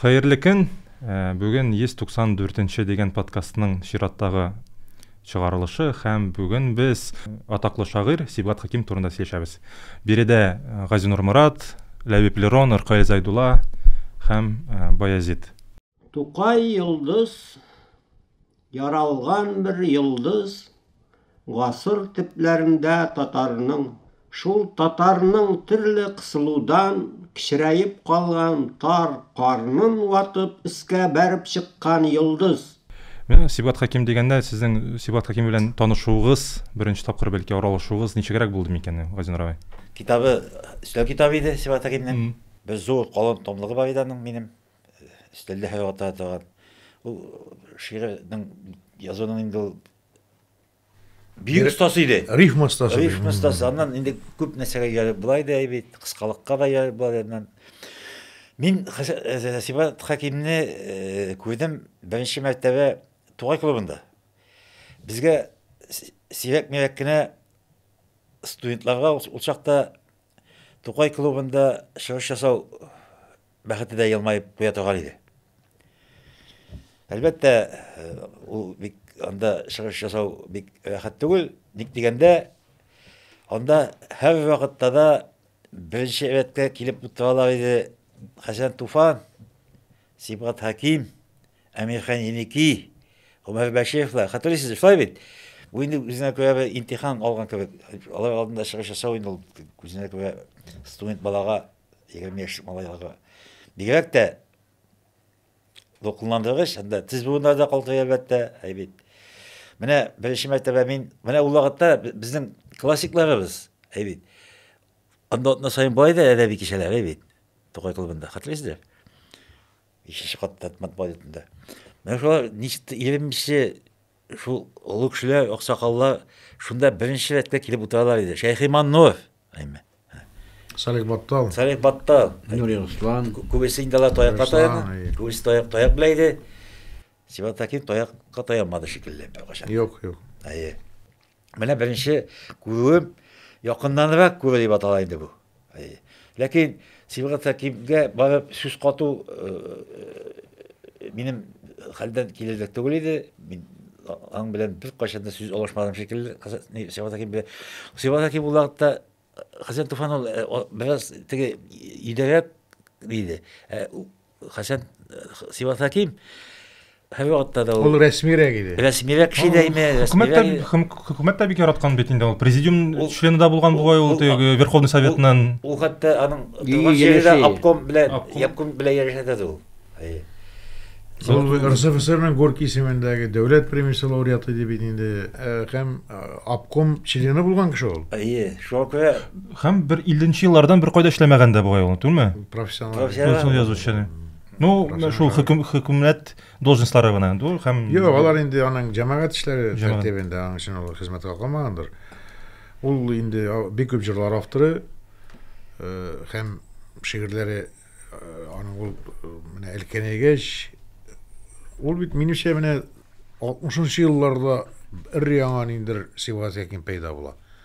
Хәерле көн! Бүген 194 нче дигән подкастның чираттагы чыгарылышы һәм бүген без атаклы шагыйрь Сибгат Хаким турында сөйләшәбез. Биредә Газинур Морат, Ләбиб Лерон, Ркаил Зайдулла һәм Баязит. Тукай Йолдыз Яралган бер йолдыз гасыр төпләрендә татарның, шул татарның төрле кысылудан кечерәеп калган тар карнын ватып өскә бәреп чыккан йолдыз. Менә Сибгат Хәким дигәндә, сезнең Сибгат Хәким белән танышуыгыз, беренче тапкыр бәлки аралашуыгыз ничегрәк булды микән ул, Газинур абый? Китабы өстәл китабы иде Сибгат Хәкимнең. Бер зур калын томлыгы бар иде аның минем. Өстәлдә һәр вакытта да торган. Ул шигырьнең язуның инде ул бик остасы иде. Рифма остасы. Рифма остасы. Аннан инде күп нәрсәгә ярып була иде бит, кыскалыкка да ярып була иде. Мин э, Сибат Хәкимне э, күрдем беренче мәртәбә Тугай клубында. Безгә сирәк-мирәк кенә студентларга ул чакта Тукай клубында чыгыш ясау Бәхете дә елмаеп куя торган иде. Әлбәттә, э, ул бик анда чыгыш ясау бик рәхәт түгел. Ник дигәндә, анда һәр вакытта да беренче рәткә килеп утыралар иде Хәсән Туфан, Сибгат Хаким, Әмирхан Еники, Гомәр Бәшиевлар. Хәтерлисез, шулай бит? Бу инде үзенә күрә бер интихан алган кебек. Алар алдында чыгыш ясау инде ул үзенә күрә студент балага егерме яшьлек малайларга бигрәк тә дулкынландыргыч һәм дә тез буыннары да калтырый әлбәттә әй бит менә беренче мәртәбә мин менә ул вакытта безнең классикларыбыз әй бит анда атна саен бар иде әдәби кичәләр әй бит тукай клубында хәтерләйсездер бишенче катта матбугат йортында менә шулар ничек егерменче Шул олы кешеләр, аксакаллар шунда беренче рәткә килеп утыралар иде. Шәйхи Маннур, әйме. Салих Баттал. Салих Баттал. Нури Руслан. Күбесе инде алар таякка таяна. Күбесе таяк, таяк белә иде. Сибат Хәким таякка таянмады шикелле беркайчан. Юк, юк. Әйе. Менә беренче күрүем якыннанрак күрү дип атала инде бу. Ләкин Сибгат Хәкимгә барып сүз кату э, э, минем хәлдән килерлек түгел иде. Мин аң белән бер кайчан да сүз алышмадым шикелле. Сибгат Хәким белән Сибгат Хәким ул вакытта э, Хәсән Туфан ул бераз теге идәрәк иде. Хәсән Сивас Хәким һәр вакытта да ул рәсмирәк иде. Рәсмирәк кеше дә име? Хөкүмәт тә бик яраткан бит инде ул. Президиум члены да булган бугай ул теге Верховный Советның. Ул хәтта аның торган җирендә обком белән, обком белән ярәшәдә дә ул. Ул РСФСРның Горький исемендәге дәүләт премиясе лауреаты иде бит инде. Һәм обком члены булган кеше ул. Әйе, шуңа күрә Һәм бер 50 еллардан бер кайда эшләмәгән дә бугай ул, түгелме? Профессионал. Профессионал язучы. Ну, шул хөкүм хөкүмәт должностьлары гына инде һәм Юк, алар инде аның җәмәгать эшләре тәртибендә, аның өчен ул хезмәткә калмагандыр. Ул инде бик күп җырлар авторы һәм шигырьләре аның ул менә Әлкәнәйгәч ул бит минемчә менә 60 елларда өр яңа ниндер сибгат якин пәйда була.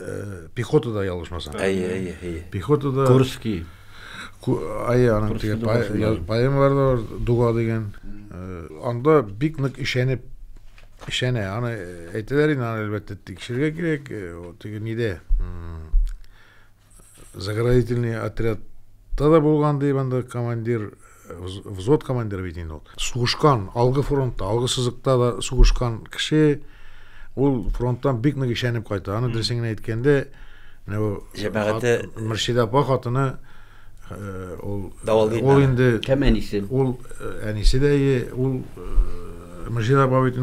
э, пехотада ялгышмасам әйе әйе әйе пехотада курский әйе аның теге поэмалары да бар дуга дигән э, анда бик нык ишәнеп ишәнә аны әйтәләр инде аны әлбәттә тикшерергә кирәк теге нидә заградительный отрядта да булган ди анда командир взвод командиры бит инде ул сугышкан алгы фронтта алгы сызыкта да сугышкан кеше ул фронттан бик нык ишәнеп кайта аны дөресен генә әйткәндә җәмәгате мөршидә апа хатыны э, ул э, ул инде кем әнисе ул э, әнисе дә ул мөршидә апа бит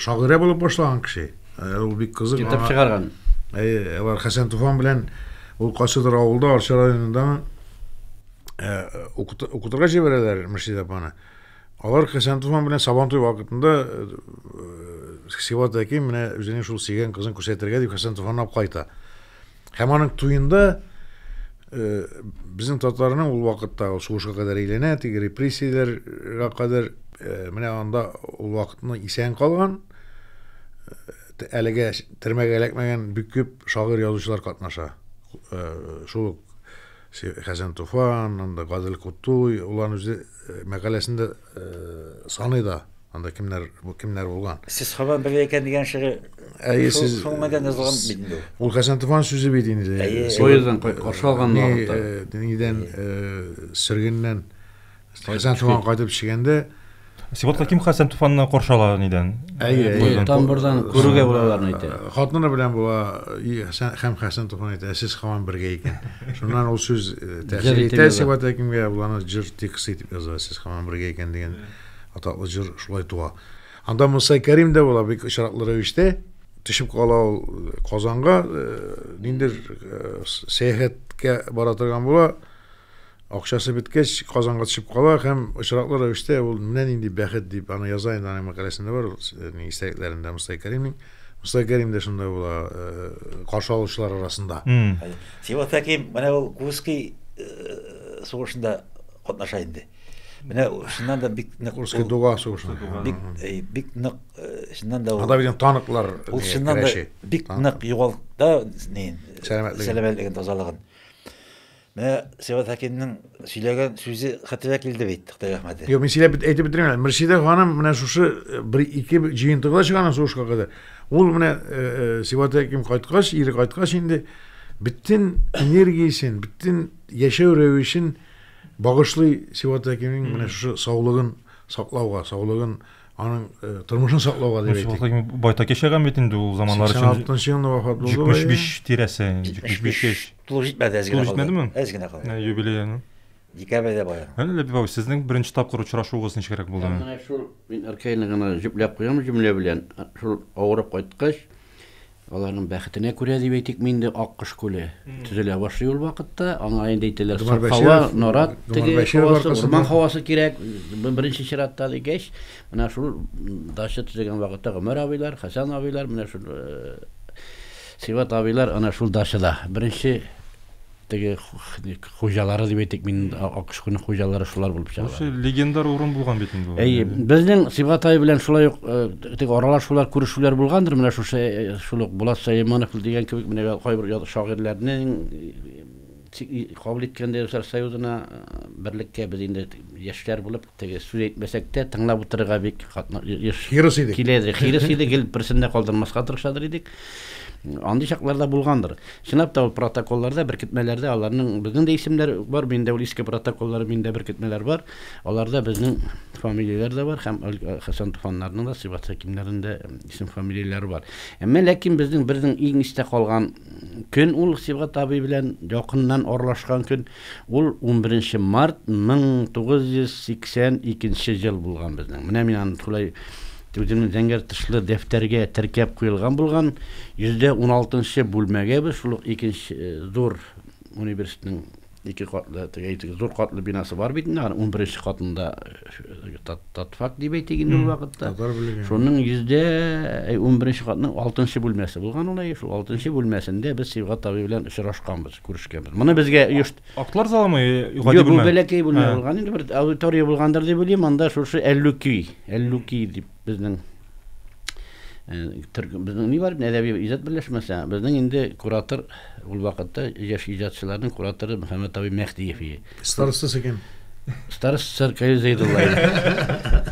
шагыйрә булып башлаган кеше Ә, ул бик кызык. Китап чыгарган. Әйе, алар Хәсән Туфан белән ул кайсыдыр авылда, Арча районындамы, ә, укытырга җибәрәләр Мөршид апаны. Алар Хәсән Туфан белән Сабантуй вакытында э, Сиват әким менә үзенең шул сөйгән кызын күрсәтергә дип Хәсән Туфанны алып кайта. Һәм аның туенда безнең татарның ул вакытта сугышка кадәр әйләнә, теге репрессияләргә кадәр менә анда ул вакытны исән калган, әлегә төрмәгә эләкмәгән бик күп шагыйрь язучылар катнаша. Шул Хәсән Туфан, анда Гадел Кутуй, улан үзе мәкаләсендә Саный да, анда кемнәр, бу кемнәр булган. Сез Хаван бер икән дигән шигырь. Әйе, сез шуның белән язылган бит инде. Ул Хәсән Туфан сүзе бит инде. Поезддан каршы алган вакытта. Нидән сөргеннән Хәсән Туфан кайтып төшкәндә Сибат Хаким Хәсән Туфанны каршы ала нидән? Әйе, тамбурдан күрүгә булаларны әйтә. Хатыны белән була һәм Хәсән Туфан әйтә, сез Хаван бергә икән. Шуннан ул сүз тәэсир итә сибата кемгә, ул аны җыр тексты итеп яза, сез һаман бергә икән дигән атаклы җыр шулай туа. Анда Муса Кәрим дә була бик очраклы рәвештә төшеп кала ул Казанга, ниндидер сәяхәткә бара торган була. Акчасы беткәч, Казанга төшеп кала һәм очраклы рәвештә ул менә нинди бәхет дип аны яза инде аның мәкаләсендә бар, ул истәлекләрендә Муса Кәримнең. Муса Кәрим дә шунда була, каршы алучылар арасында. Сима Хәким менә ул Курский сугышында катнаша инде. Менә шуннан да бик нык Курский дуга сугышында. Бик бик нык шуннан да ул. Анда бит танклар. Ул шуннан да бик нык югалта, сәламәтлеген тазалыгын. Менә Сибгат Хәкимнең сөйләгән сүзе хәтерә килде бит, Хытай рәхмәте. Юк, мин сөйләп бит әйтеп бетермим әле. Мөршидә ханым менә шушы э, бер ике җыентыгыда чыганнан сугышка кадәр. Ул менә э, э, Сибгат Хәким кайткач, ире кайткач инде бөтен энергиясен, бөтен яшәү рәвешен багышлый Сибгат Хәкимнең менә шушы саулыгын саклауга, саулыгын аның э, тормышын саклауга дип әйтик байтак яшәгән бит инде ул заманнар өчен сиксән алтынчы елында вафат булды җитмеш биш тирәсе җитмеш биш яшь тулы җитмәде әз генә җитмәдеме әз генә калды юбилеяны декабрьдә бая әле ләбиб абый сезнең беренче тапкыр очрашуыгыз ничегрәк булды менә шул мин аркайны гына җөпләп куям җөмлә белән шул авырып кайткач Аларның бәхетенә күрә дип әйтикме инде, Аккош күле төзелә башлый ул вакытта. Аңа инде әйтәләр, Дмар саф һава, Бәширов, нарат Дмар теге Бәширов һавасы, аркасында. урман һавасы кирәк, б- беренче чиратта дигәч, менә шул м, дача төзегән вакытта Гомәр абыйлар, Хәсән абыйлар, менә шул э, Сибат абыйлар ана шул дачада беренче Теге хуҗалары дип әйтик, мин Акышкуның хуҗалары шулар булып чыга. Шул легендар урын булган бит инде. Әйе, безнең Сибгат ай белән шулай ук э, теге аралашулар, күрешүләр булгандыр, менә шушы э, шул ук Булат Сәйманов дигән кебек менә кайбер шагыйрьләрнең э, кабул иткәндә Союзына берлектә без инде яшьләр булып Теге сүз әйтмәсәк тә, тыңлап утырырга бик хирыс идек. Килә иде, хирыс иде, гел берсен дә калдырмаска тырышадыр идек. Андый чакларда булгандыр. Чынлап та ул протоколларда, беркетмәләрдә аларның безнең дә исемнәр бар, минем дә ул иске протоколлар, минем дә беркетмәләр бар. Аларда безнең фамилияләр дә бар һәм Хәсән Туфаннарның да, Сыйбат Хәкимнәрнең дә исем-фамилияләре бар. Әмма ләкин безнең бернең иң истә калган көн ул Сыйбат абый белән якыннан аралашкан көн. Ул унберенче март 1982 ел булган безнең. Менә мин аны шулай үземнең зәңгәр тышлы дәфтәргә теркәп куелган булган. Йөздә уналтынчы бүлмәгә без шул ук икенче зур университетның ике катлы, теге әйтик, зур катлы бинасы бар бит инде, аны унберенче катында татфак дип әйтик инде ул вакытта. Татар бүлеге. Шуның йөздә унберенче катның алтынчы бүлмәсе булган ул, шул алтынчы бүлмәсендә без Сибгат абый белән очрашканбыз. күрешкәнбез моны безгә оешт актлар залымы гади бу бәләкәй бүлмә булган инде бер аудитория булгандыр дип уйлыйм анда шушы әллүки әллүки дип безнең безнең ни бар әдәби иҗат берләшмәсе безнең инде куратор ул вакытта яшь иҗатчыларның кураторы мөхәммәт абый мәһдиев иде Старостасы кем? Старостасы Аркадий Зәйдулла иде.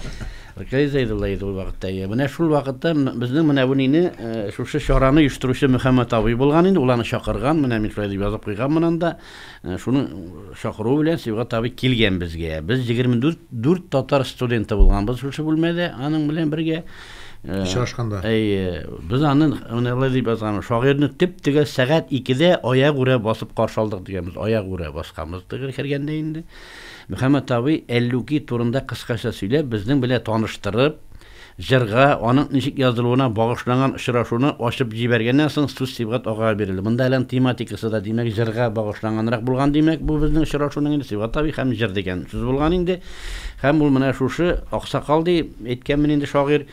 Аркадий Зәйдулла иде ул вакытта. Иә. Менә шул вакытта безнең менә бу нине э, шушы чараны оештыручы Мөхәммәт абый булган инде, ул аны чакырган, менә мин шулай дип язып куйган монан да. Э, шуның чакыруы белән Сибгат абый килгән безгә. Без 24 4 татар студенты булганбыз шушы бүлмәдә аның белән бергә. Очрашканда. Әйе, без аны менә алай дип язган, шагыйрьне төп тегә сәгать 2-дә аяк үрә басып каршы алдык дигәнбез. Аяк үрә басканбыз тегер кергәндә инде. Мөхәммәт абый Әллүки турында кыскача сөйләп, безнең белән таныштырып, җырга, аның ничек язылуына багышланган очрашуны ачып җибәргәннән соң сүз Сибгат агага бирелде. Монда әле тематикасы да, димәк, җырга багышланганрак булган, димәк, бу безнең очрашуның инде Сибгат абый һәм җыр дигән сүз булган инде. Һәм ул менә шушы аксакал ди, Әйткән мени инде шагыйрь,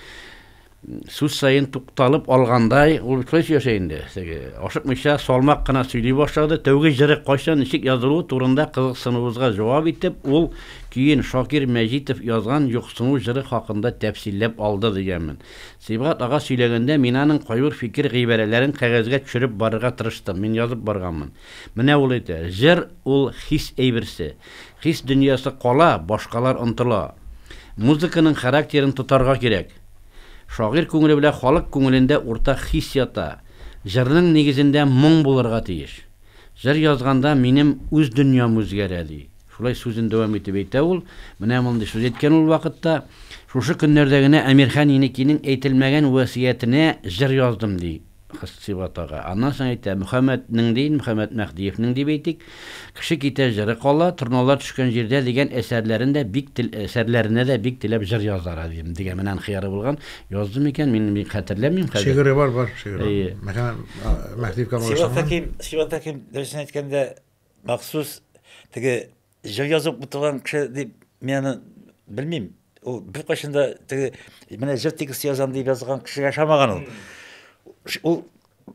Сүз саен тукталып алгандай, ул бит шулай сөйләшә инде. Теге, ашыкмыйча, салмак кына сөйли башлады. Тәүге җыры кайчан, ничек язылуы турында кызыксынуыбызга җавап итеп, ул көен Шакир Мәҗитов язган Юксыну җыры хакында тәфсилләп алды, дигәнмен. Сибгат ага сөйләгәндә, мин аның кайбер фикер гыйбарәләрен кәгазьгә төшереп барырга тырыштым. Мин язып барганмын. Менә ул әйтә, Җыр, ул хис әйберсе. Хис дөньясы кала, башкалар онтыла. Музыканың характерын тотарга кирәк. Шагыйрь күңеле белән халык күңелендә уртак хис ята. Җырның нигезендә моң булырга тиеш. Җыр язганда минем үз дөньям үзгәрә, ди. Шулай сүзен дәвам итеп әйтә ул. Менә мондый сүз әйткән ул вакытта. Шушы көннәрдә генә Әмирхан Еникинең әйтелмәгән васыятенә җыр яздым, ди. Хсиват ага. Аннан соң әйтә, Мөхәммәт нең дин, Мөхәммәт Мәһдиев нең дип әйтик, Кеше китә, җыры кала, Торналар төшкән җирдә дигән әсәрләрен дә бик тел әсәрләренә дә бик теләп җыр язар адем дигән менә аның хыяры булган. Язды микән, мин бик хәтерләмим хәзер. Шигыре бар, бар шигыре бар. Әйе. Мөхәммәт Мәһдиевка багышланган. Сиваттагы Сиваттагы дөресен әйткәндә, махсус теге Җыр язып утырган кеше дип мин аны белмим. Ул беркайчан да теге менә җыр тексты язам дип язган кеше яшамаган ул. Ул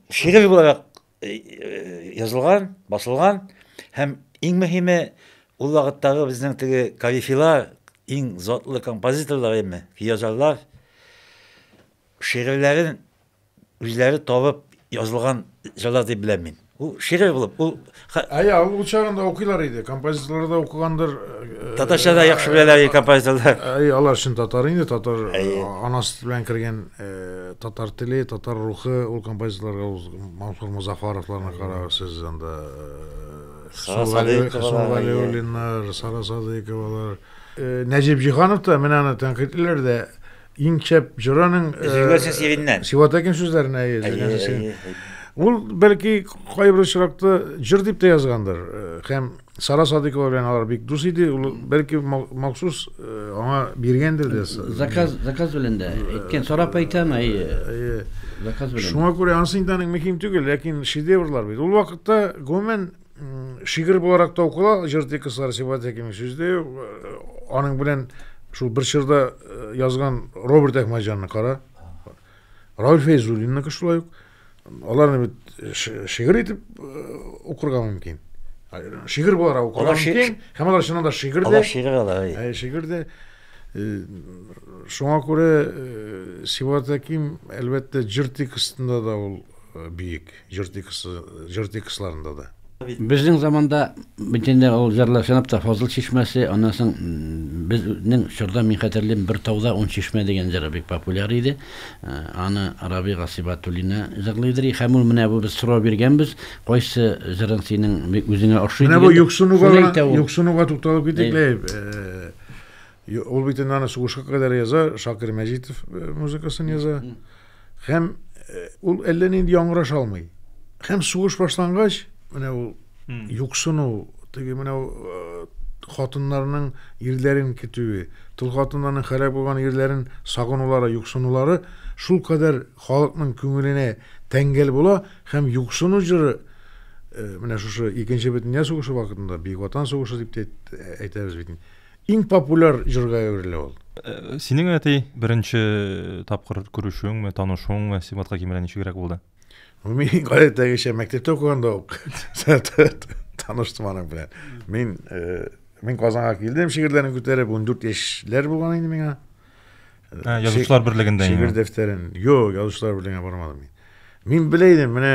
шигырь буларак э, э, язылган, басылган һәм иң мөһиме ул вакыттагы безнең теге калифилар, иң затлы композиторлар әйме, язарлар шигырьләрен Үзләре табып язылган җырлар дип беләм мин. Ул шигырь булып, ул Ә я, ул чагында укыйлар иде, композиторлар да укыгандыр. Э, Татарча да яхшы беләләр иде композиторлар. Әй, алар өчен татар инде, татар анасы белән кергән э, татар теле, татар рухы, ул композиторларга ул Мансур Музафаровларны карагыз сез анда. Э, Сара Садыйковалар, Сара Садыйковалар. Нәҗип Җиһанов та менә аны тәнкыйтьләр дә иң шәп җырының өзелгәнсең сиреннән сиватәкин сүзләренә ул бәлки кайбер очракта җыр дип тә язгандыр һәм сара садыйкова белән алар бик дус иде ул бәлки махсус аңа биргәндер дә заказ заказ белән дә әйткән сорап әйтәм әйе заказ белән шуңа күрә анысы инде аның мөһим түгел ләкин шедеврлар бит ул вакытта гомумән Шигырь буларак та укыла, җыр текстлары Сибат Хәкимов сүзле, аның белән шул бер чорда язган Роберт Әхмәҗанны кара, Рауль Фәйзуллинныкы шулай ук. Аларны бит шигырь итеп укырга мөмкин. Шигырь буларак укырга мөмкин. Һәм алар чыннан да шигырь дә. Алар шигырь алар. Шигырь дә. Шуңа күрә Сибат Хәким, әлбәттә, җыр текстында да ул бөек. Җыр тексты, җыр текстларында да. Безнең заманда бөтенләй ул җырлар чынлап та Фазыл чишмәсе, аннан соң безнең чорда мин хәтерлим, Бер тауда ун чишмә дигән җыры бик популяр иде. Аны Рабига Сибатуллина җырлыйдыр и һәм ул менә бу без сорау биргәнбез, кайсы җырың синең үзеңә охшый дигәндә. Менә бу юксынуга, юксынуга тукталып китик лә. Ул бит инде аны сугышка кадәр яза, Шакир Мәҗитов э, музыкасын яза. Һәм э, ул әллә нинди яңгыраш алмый. Һәм сугыш башлангач, менә ул юксыну, теге менә э, хатыннарның ирләрен көтүе, тол хатыннарның хәрәк булган ирләрен сагынулары, юксынулары шул кадәр халыкның күңеленә тәңгәл була һәм юксыну җыры менә шушы икенче бөтендөнья сугышы вакытында, Бөек Ватан сугышы дип әйтәбез бит. Иң популяр җырга әверелә ул. Синең әти беренче тапкыр күрешүеңме, танышуыңмы Сибгатка кимерә ничегрәк булды? Мин гадәттәгечә мәктәптә укыганда ук таныштым аның белән. Мин мин Казанга килдем, шигырьләрне күтәреп, 14 яшьләр булган инде миңа. Ә, язучылар берлегендә инде. Шигырь дәфтәрен. Юк, язучылар берлегенә бармадым мин. Мин белә идем, менә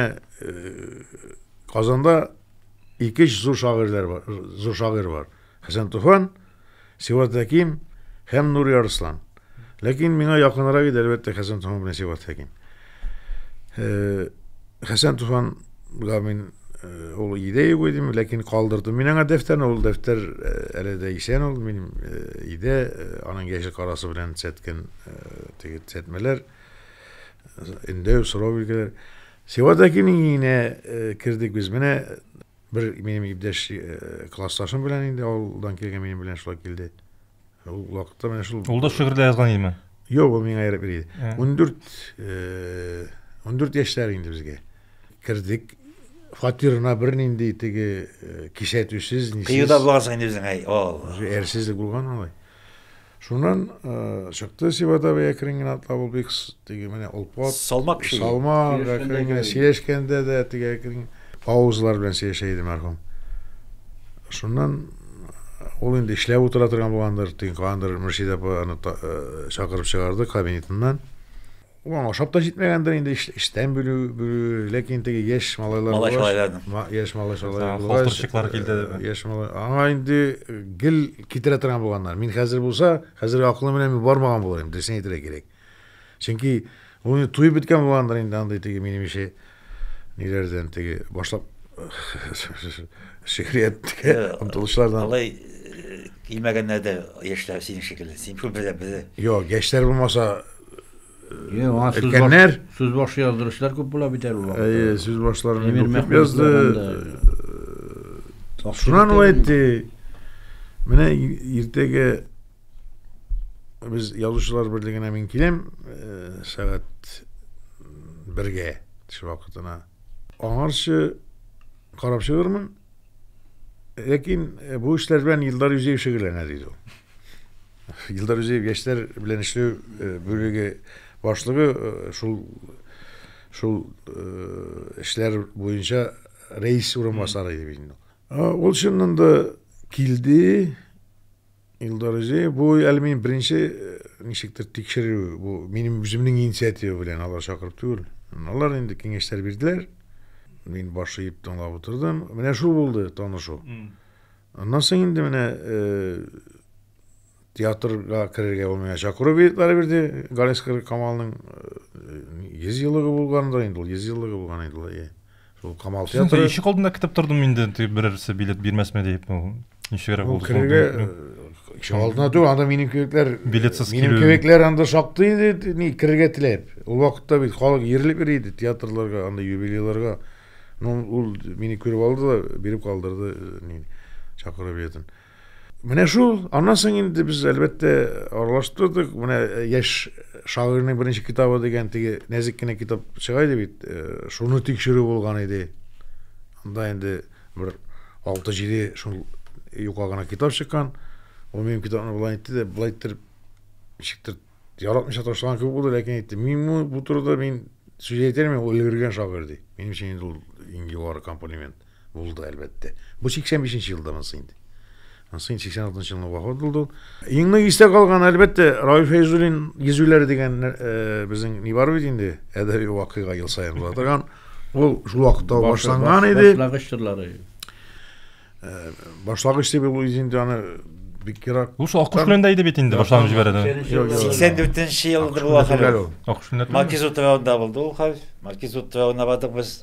Казанда ике зур шагыйрьләр бар, зур шагыйрь бар. Хәсән Туфан, Сиват Хәким һәм Нури Арыслан. Ләкин миңа якынрак иде, әлбәттә, Хәсән Туфан белән Сиват Хәким. Хәсән Туфанга мин ул идә юк идем, ләкин калдырдым. Мин аңа дәфтәрне, ул дәфтәр әле дә исән ул, мин идә, аның яшел карасы белән сәткән теге сәтмәләр, инде сорау биргәләр. Сиват Хәкимнең иңенә кердек без. Менә Бер минем иптәш классташым белән инде авылдан килгән минем белән шулай килде. Ул вакытта менә шул Ул да шигырьдә язган идеме? Юк, ул миңа ярып бирде. 14 14 яшьләр инде безгә. Кердек. Фатирына бернинди теге кисәтүсез, нисез. Кыюда булгансың инде үзең, әй, Алла. Әрсезлек булган алай. Шуннан э, чыкты Сивадовый әкрен генә атлап ул бик теге менә олпат. Салмак кеше. Салмак әкрен генә сөйләшкәндә дә теге әкрен паузалар белән сөйләшә иде мәрхүм. Шуннан э, ул инде эшләп утыра торган булгандыр, тиң кандыр Мөршидә апа аны э, чакырып чыгарды кабинетыннан. Уң ашап та җитмәгәндер инде эштән бүлү, бүлү ләкин теге яшь малайлар малай шалайларның яшь малай шалайлар халтурчыклар килде э, яшь малай аңа инде э, гел китерә торган булганнар мин хәзер булса хәзерге акылым белән мин бармаган булыр идем дөресен әйтергә кирәк чөнки ул инде туеп беткән булгандыр инде андый теге минемчә ниләрдән теге башлап шигърияткә омтылышлардан алай килмәгәннәр дә яшьләр синең шикелле син күп белә белә юк яшьләр булмаса өлкәннәр сүз башы яздыручылар күп була бит әле әйе сүз башларын күп язды шуннан әйтте менә иртәгә Без язучылар берлегенә мин киләм, э, сәгать бергә төш вакытына. Аңарчы карап чыгырмын. Ләкин э, бу эшләр белән Илдар Юзеев шөгыльләнә, диде ул. Илдар Юзеев яшьләр белән эшләү э, бүлеге башлыгы э, шул шул эшләр буенча рәис урынбасары иде бит инде. Ул чыннан да килде, Илдар Узеев, бу әле мин беренче э, ничектер тикшерү, бу минем үземнең инициатива белән алар чакырып түгел. Алар инде киңәшләр бирделәр. Мин баш иеп тыңлап утырдым. Менә шул булды танышу. Аннан соң инде менә э, театрга керергә ул миңа чакыру билетлары бирде. Галискар Камалның 100 э, еллыгы булгандыр инде ул, 100 еллыгы булган инде ул. Шул Камал театры. Ишек алдында көтеп тордым инде, берәрсе билет бирмәсме дип. Ничегрәк булды? Керергә ишек алдына түгел, анда минем кебекләр билетсыз килү. Минем кебекләр анда шактый иде, ни керергә теләп. Ул вакытта бит халык йөрилеп йөри иде театрларга, анда юбилейларга. Ну, ул мине күреп алды да биреп калдырды, э, ни чакыру билетын. Менә шул, аннан соң инде без әлбәттә аралаштырдык. Менә э, яшь шагыйрьнең беренче китабы дигән теге нәзек кенә китап чыга иде бит. Э, шуны тикшерү булган иде. Анда инде бер 6-7 шул юка гына китап чыккан. Ул минем китапны былай итте дә, былай иттереп ничектер яратмыйча ташлаган кебек булды, ләкин әйтте, мин бу турыда мин сүз әйтер мин ул өлгергән шагыйрь ди. Минем өчен инде ул иң югары комплимент. Булды, әлбәттә. Бу 85 нче елда монсы инде. Монсы инде 86 нчы елның вафат булды ул. Иң нык истә калган, әлбәттә, Равил Фәйзуллин йөзүләре дигән э, безнең ни бар бит инде, әдәби вакыйга ел саен була торган. Ул шул вакытта башланган иде. Башлагыч чорлары. Э, башлагыч дип ул инде аны бик ерак. Ул шул Аккуш белән дә иде бит инде башланып җибәрде. 84 нче елда була хәле. Аккуш белән. Маркиз утравында булды ул хәл. Маркиз утравына бардык без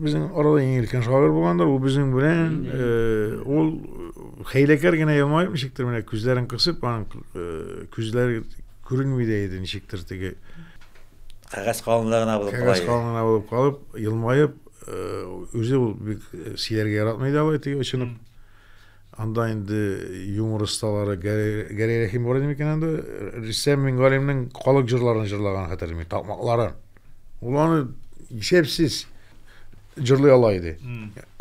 Безнең арада иң өлкән шагыйрь булгандыр. Ул безнең белән ул хәйләкәр генә елмаеп ничектер менә күзләрен кысып, аның күзләре күренми дә иде ничектер теге кәгазь калынлыгы гына булып кала. Кәгазь калынлыгы гына булып калып, елмаеп, үзе ул бик сөйләргә яратмый да алай теге очынып. Анда инде юмор осталары Гәрәй Рәхим бар иде микән анда? Рөстәм Мингалимнең халык җырларын җырлаган хәтерлим мин, такмакларын. Ул аны исәпсез җырлый ала иде.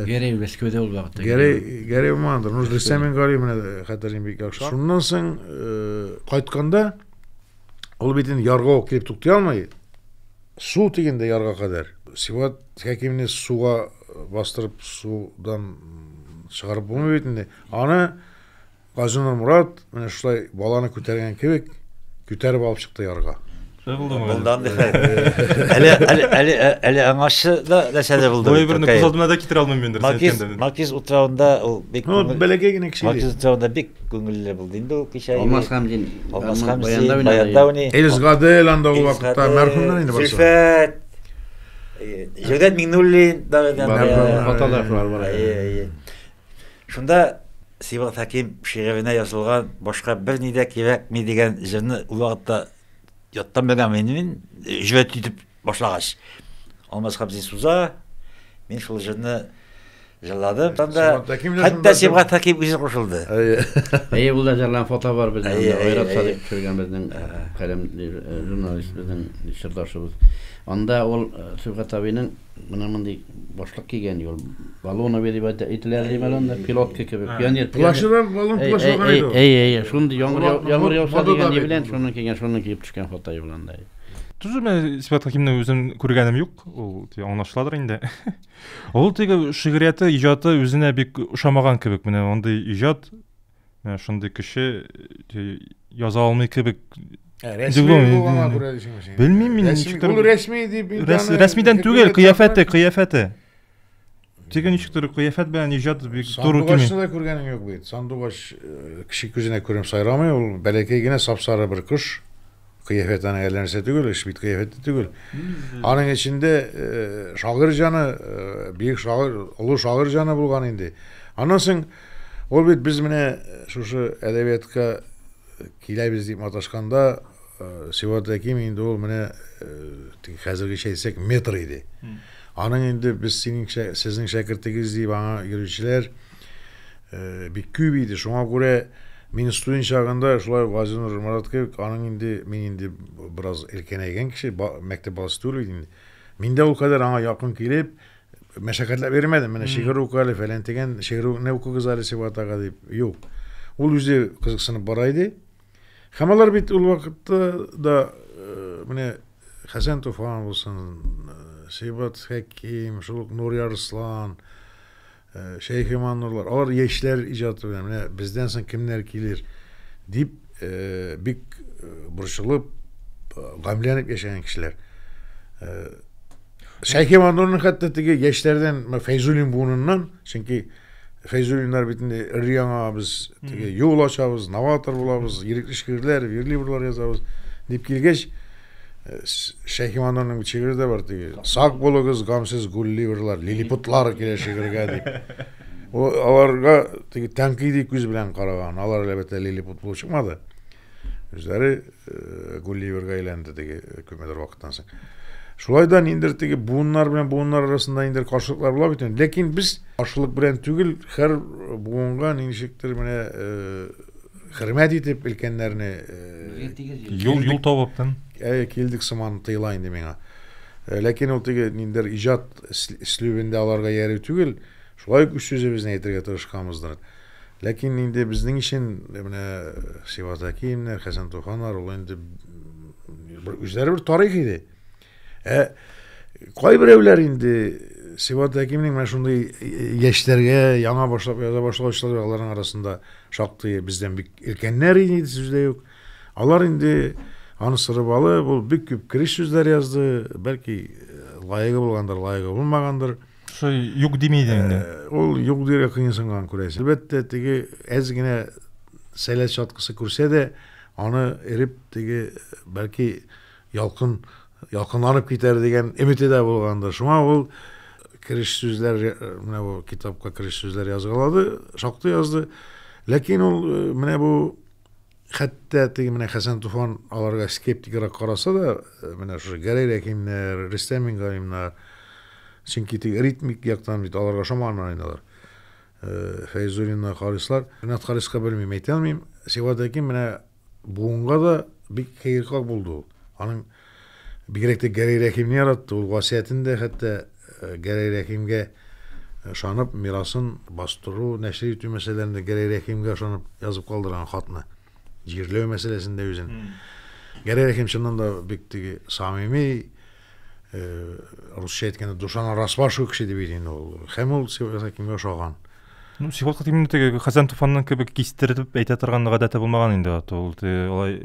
Гәрәй Мәскәүдә ул вакытта. Гәрәй, Гәрәй Умандыр. Ну, Рөстәм Мингалим менә хәтерлим бик яхшы. Шуннан соң кайтканда ул бит инде ярга ук килеп туктый алмый. Су тигәндә ярга кадәр Сибгат Тик кимне суга бастырып судан чыгарып булмый бит инде. Аны Газинур Мурат менә шулай баланы күтәргән кебек күтәреп алып чыкты ярга. Булдан әле әле әле әле аңашы да нәрсә дә булды. Бу берне күз алдына да китерә алмыйм инде. Макиз Макиз утравында ул бик Ну, бәләкәй генә кеше. Макиз утравында бик күңелле булды инде ул кичә. Алмаз Хамзин. Алмаз Хамзин. Баяндауни. Элис Гадел анда ул вакытта мәрхүмнәр инде барсы. Зөлфәт. Җәүдәт Миңнуллин да фотографлар бар. Шунда Сибал Хәким шигыренә язылган башка бер ни дә кирәкми дигән җырны ул вакытта яттан белгән мин җөбәт итеп башлагач. Алмаз Хабзин суза, мин шул җырны Җырлады. Хәтта Сибгат Хәким үзе кушылды. Әйе, ул да җырлан фото бар безнең. Айрат Садыйк төшергән безнең каләм журналист безнең чырдашыбыз. Анда ул Сибгат абыйның менә мондый башлык кигән юл. Балон абый дип әйтелә ди балон да пилотка кебек. Пионер. Плащы да балон плащ булган иде. Әйе, әйе, шундый яңгыр яңгыр яуса дигән ни белән шуны кигән, шуны киеп төшкән фото юлында. Түзү мен Сибгат Хәкимне үзем күргәнем юк. Ул аңлашыладыр инде. Ул теге шигърияте, иҗаты үзенә бик ошамаган кебек. Менә андый иҗат, менә шундый кеше яза алмый кебек. Рәсми булганга күрә дисеңме син? Белмим мин. Ул рәсми дип Рәсмидән түгел, кыяфәте, кыяфәте. Теге ничектер кыяфәт белән иҗат бик туры килми. Сандугачны да күргәнең юк бит. Сандугач кеше күзенә күренеп сайрамый, ул бәләкәй генә сап-сары бер кош. Кыяфәт аның әллә нәрсә түгел, эш бит кыяфәттә түгел. Аның эчендә э, шагыйрь җаны, э, бөек шагыйрь, олы шагыйрь җаны булган инде. Аннан соң ул бит без менә э, шушы әдәбиятка киләбез дип маташканда э, Сиват Әким инде ул менә э, хәзергечә әйтсәк метр иде. Аның инде без синең сезнең шәкертегез дип аңа йөрүчеләр Э, бик күп иде. Шуңа күрә мин студент чагында шулай Газинур Марат кебек, аның инде мин инде бераз элкенәйгән кеше, ба, мәктәп баласы түгел иде инде. Мин дә ул кадәр аңа якын килеп, мәшәкатьләп йөрмәдем. Менә шигырь уку әле, фәлән дигән шигырьне укыгыз әле Сибатага дип. Юк. Ул үзе кызыксынып бара иде. Һәм алар бит ул вакытта да э, менә Хәсән Туфан булсын, э, Сибат Хәким, шул ук Нури Арслан, Э, Шәйхе Маннурлар, алар яшьләр иҗаты белән, менә бездән соң кемнәр килер, дип э, бик э, борчылып, э, гамьләнеп яшәгән кешеләр. Э, Шәйхе Маннурның хәтта теге яшьләрдән менә Фәйзуллин буыныннан, чөнки Фәйзуллиннар бит инде өр-яңа без теге юл ачабыз, новатор булабыз, ирекле шигырьләр, верлибрлар язабыз, дип килгәч, Шәйхиманурның шигыре дә бар теге. Сак булыгыз, гамсез гулливерлар, лилипутлар килә шигырьгә дип. Ул аларга теге тәнкыйди күз белән караган. Алар әлбәттә лилипут булып чыкмады. Үзләре э, гулливерга әйләнде теге э, күпмедер вакыттан соң. Шулай да ниндер теге буыннар белән буыннар арасында ниндер каршылыклар була бит. Ләкин без ашлык белән түгел, һәр буынга ничектер менә э, хөрмәт итеп өлкәннәрне юл юл табып килдек сыман тоела инде миңа э, ләкин ул теге ниндидер иҗат слюбендә аларга ярый түгел шулай ук үз сүзебезне әйтергә тырышканбыздыр ләкин инде безнең өчен э, менә сиват әкиевнәр хәсән туханнар ул инде бер үзләре бер тарих иде Ә кайберәүләр инде Сибат Әкимнең менә шундый яшьләргә яңа башлап яза башлаучылар аларның арасында шактый бездән бик өлкәннәр иде сүз дә юк. Алар инде аны сырып алып, ул бик күп кереш сүзләр язды, бәлки лаегы булгандыр, лаегы булмагандыр. Шо юк дими иде инде. Ул юк дирә кыенсынган күрәсең. Әлбәттә, теге әз генә сәләт чаткысы күрсә дә, аны эреп теге бәлки Ялкын ялкынланып китәр дигән өмете дә булгандыр. Шуңа ул кереш сүзләр, менә бу китапка кереш сүзләр язгалады, шактый язды. Ләкин ул э, менә бу хәтта теге менә Хәсән Туфан аларга скептикрак караса да, э, менә шушы Гәрәй Рәхимнәр, Рөстәм Мингалимнар, чөнки теге ритмик яктан бит аларга шоманнар инде алар. Э, Фәйзуллиннар, Харислар. Ринат Хариска белмим, әйтә алмыйм. Сибгат Әким менә Буынга да бик кыеркак булды ул. Аның бигрәк тә Гәрәй Рәхимне яратты. Ул васыятен дә хәтта э, Гәрәй Рәхимгә ышанып, мирасын бастыру, нәшер итү мәсьәләләрендә Гәрәй Рәхимгә ышанып язып калдырган хатны. Җирләү мәсьәләсендә үзен. Гәрәй Рәхим чыннан да бик теге самими, русча әйткәндә душан арасва шул кеше дип инде ул һәм ул севасакимгә ошаган ну сиват хатимнең теге хәзән туфаннан кебек кистереп әйтә торган гадәте булмаган инде ул алай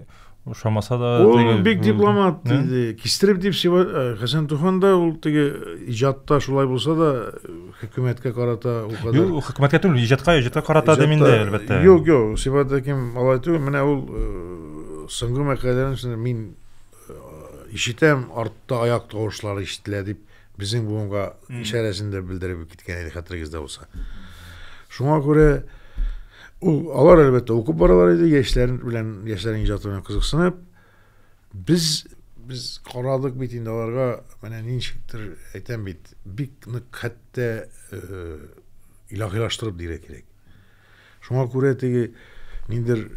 ошамаса да ул бик дипломат иде кистереп дип хәсән туфан да ул теге иҗатта шулай булса да хөкүмәткә карата ул кадәр юк хөкүмәткә түгел иҗатка иҗатка карата да миндә әлбәттә юк юк сиват хаким алай түгел менә ул соңгы мәкаләләрен мин Ишетәм, артта аяк тавышлары ишетелә, дип, безнең буынга ишарәсен дә белдереп киткән иде, хәтерегездә булса. Шуңа күрә ул алар әлбәттә укып баралар иде, яшьләр белән, яшьләрнең иҗаты белән кызыксынып. Без без карадык бит инде аларга, менә ничектер әйтәм бит, бик нык хәтта э, илаһилаштырып дигән кирәк. Шуңа күрә теге ниндер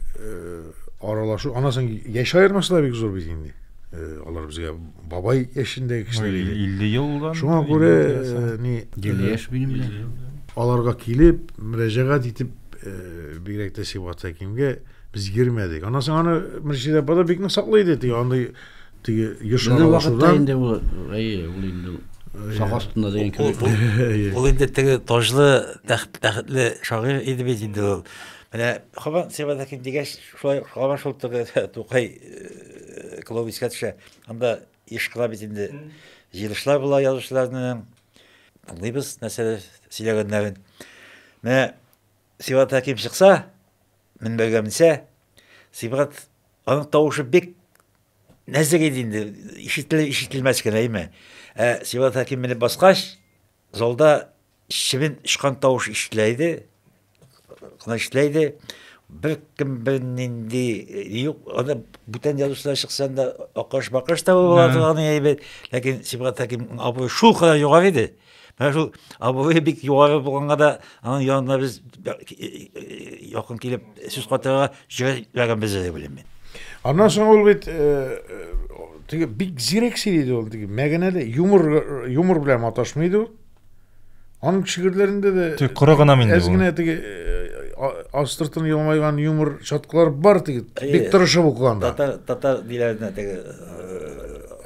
аралашу, ана соң яшь аермасы да бик зур бит инде. Алар безгә бабай яшендәге кешеләр иде. 50 елдан. Шуңа күрә ни гел яшь минем белән. Аларга килеп, мөрәҗәгать итеп, бигрәк тә Сибгат Хәкимгә без йөрмәдек. Ана соң аны Мөршидә апа да бик нык саклый иде. Теге андый теге еш Безнең вакытта аралашудан инде ул, әйе, ул инде сак астында дигән Ул- кебек. ул- Ул инде теге таҗлы, тәхт- тәхетле шагыйрь иде бит инде ул. Менә Хабан Сибадакин дигәч, шулай Хабан шул теге Тукай э, клубы искә төшә. Анда еш кына бит инде җыелышлар була язучыларның. Тыңлыйбыз нәрсәләр сөйләгәннәрен. Менә Сибадакин чыкса, Мин белгәнемчә, Сибгат аның тавышы бик нәзек иде инде, ишетелер ишетелмәс кенә име. Ә Сибгат Хәким менеп баскач, залда чебен очкан тавыш ишетелә иде. Кына ишетелә иде. Бер кем бер нинди э, юк, аны бүтән язучылар чыксаң да акыш-бакыш та була торган әйбәт. Ләкин Сибгат Хәким абый шул кадәр югары иде. Менә шул абый бик югары булганга да аның янына без якын килеп сүз катырга җөрәгебез дә белем мин. Аннан соң ул бит теге бик зирәк сөйләде ул теге мәгәнәле юмор юмор белән маташмый иде ул. Аның шигырьләрендә дә тик коры гына инде. Әз генә теге астыртын елмайган юмор чаткылар бар теге. Бик тырышып укыганда. Татар татар диләренә теге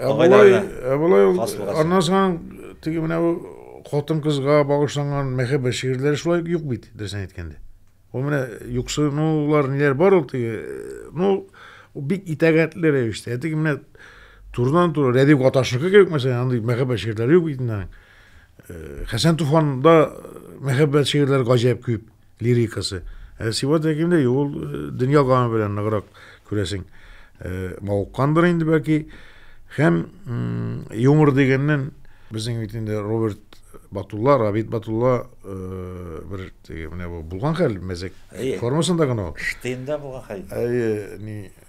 Абылай, Абылай ул аннан соң Теге менә бу хатын-кызга багышланган мәхәббәт шигырьләре шулай юк бит, дөресен әйткәндә. Ул менә юксынулар ниләр бар ул теге, ну, бик итәгатьле рәвештә. Ә теге менә турыдан туры Рәдип Гаташныкы кебек мәсәлән, андый мәхәббәт шигырьләре юк бит инде. Хәсән Туфанда мәхәббәт шигырьләре гаҗәп күп. лирикасы. Ә Сибат Әкимдә юк, ул э, дөнья гамы белән ныграк күрәсең. Э, мавыккандыр инде бәлки. Һәм юмор дигәннән безнең бит инде Роберт Батулла, Рабит Батулла э, бер теге менә бу булган хәл мәзәк формасында гына ул. Штейнда булган хәл. Әйе, ни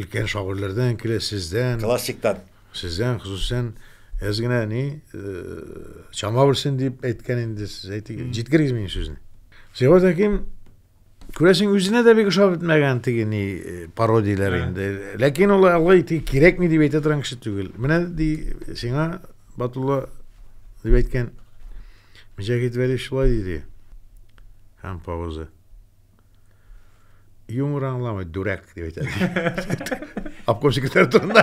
өлкән шагыйрьләрдән килә, сездән. Классиктан. Сездән, хосусән, әз генә ни, чама белсен дип әйткән инде сез, әйтегез, җиткерегез минем сүзне. Сиңа тәким, күрәсең, үзенә дә бик ошап бетмәгән теге ни пародияләр инде. Ләкин ул алай тик кирәкми дип әйтә торган кеше түгел. Менә ди сиңа Батулла дип әйткән Мөҗәһит Вәли шулай диде. Һәм пауза. Юмор аңламый, дүрәк, дип әйтә. Обкомщиклар турында.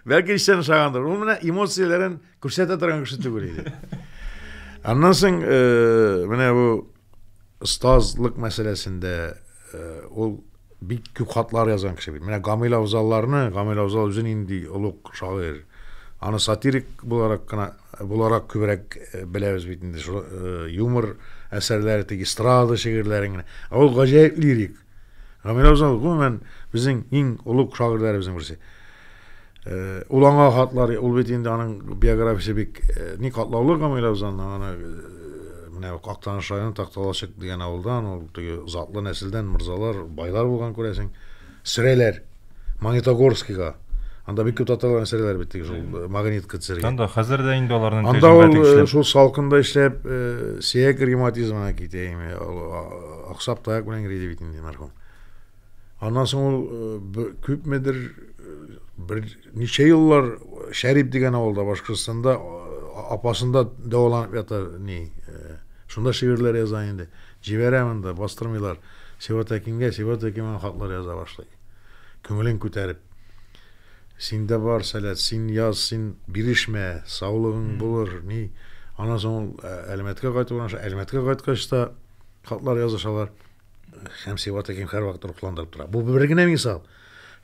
Бәлки эчтән ошагандыр. Ул менә эмоцияләрен күрсәтә торган кеше түгел иде. Аннан соң, э, менә бу Остазлык мәсьәләсендә ул бик күп хатлар язган кеше бит. Менә Гамил Авзалларны, Гамил Авзал үзе нинди олуг шагыйрь. Аны сатирик буларак кына буларак күбрәк беләбез бит инде. Юмор әсәрләре, тик эстрада шигырьләрен генә. Ә ул гаҗәеп лирик. Гамилә Узал гомумән безнең иң олуг шагыйрьләребезнең берсе. Э, ул аңа хатлар, ул бит инде аның биографиясе бик э, ни катлаулы Гамилә Узалның аны э, менә Актаныш районы Такталачык дигән авылдан, ул теге затлы нәселдән мырзалар, байлар булган күрәсең. Сөрәләр. Магнитогорскига. Анда бик күп татарлар эшләделәр бит теге шул э, магнитка төшәргә. Анда хәзер дә инде аларның Анда ул э, шул салкында эшләп, э, сөяк ревматизмына китә име, аксап таяк белән грейди бит инде мәрхүм. Аннан соң ул э, күпмедер бер ничә еллар Шәрип дигән авылда Башкортстанда апасында дәваланып ята ни. Шунда шигырьләр яза инде. Җибәрә монда, бастырмыйлар. Сиват Әкингә, Сиват Әкин хатлар яза башлый. Күңелен күтәреп. Синдә бар сәләт, син яз, син бирешмә, саулыгың булыр, ни. Аннан соң ул ә, Әлмәткә кайтып урнаша. Әлмәткә кайткач та хатлар язышалар. Һәм Сибгат Хәким һәрвакыт рухландырып тора. Бу бер генә мисал.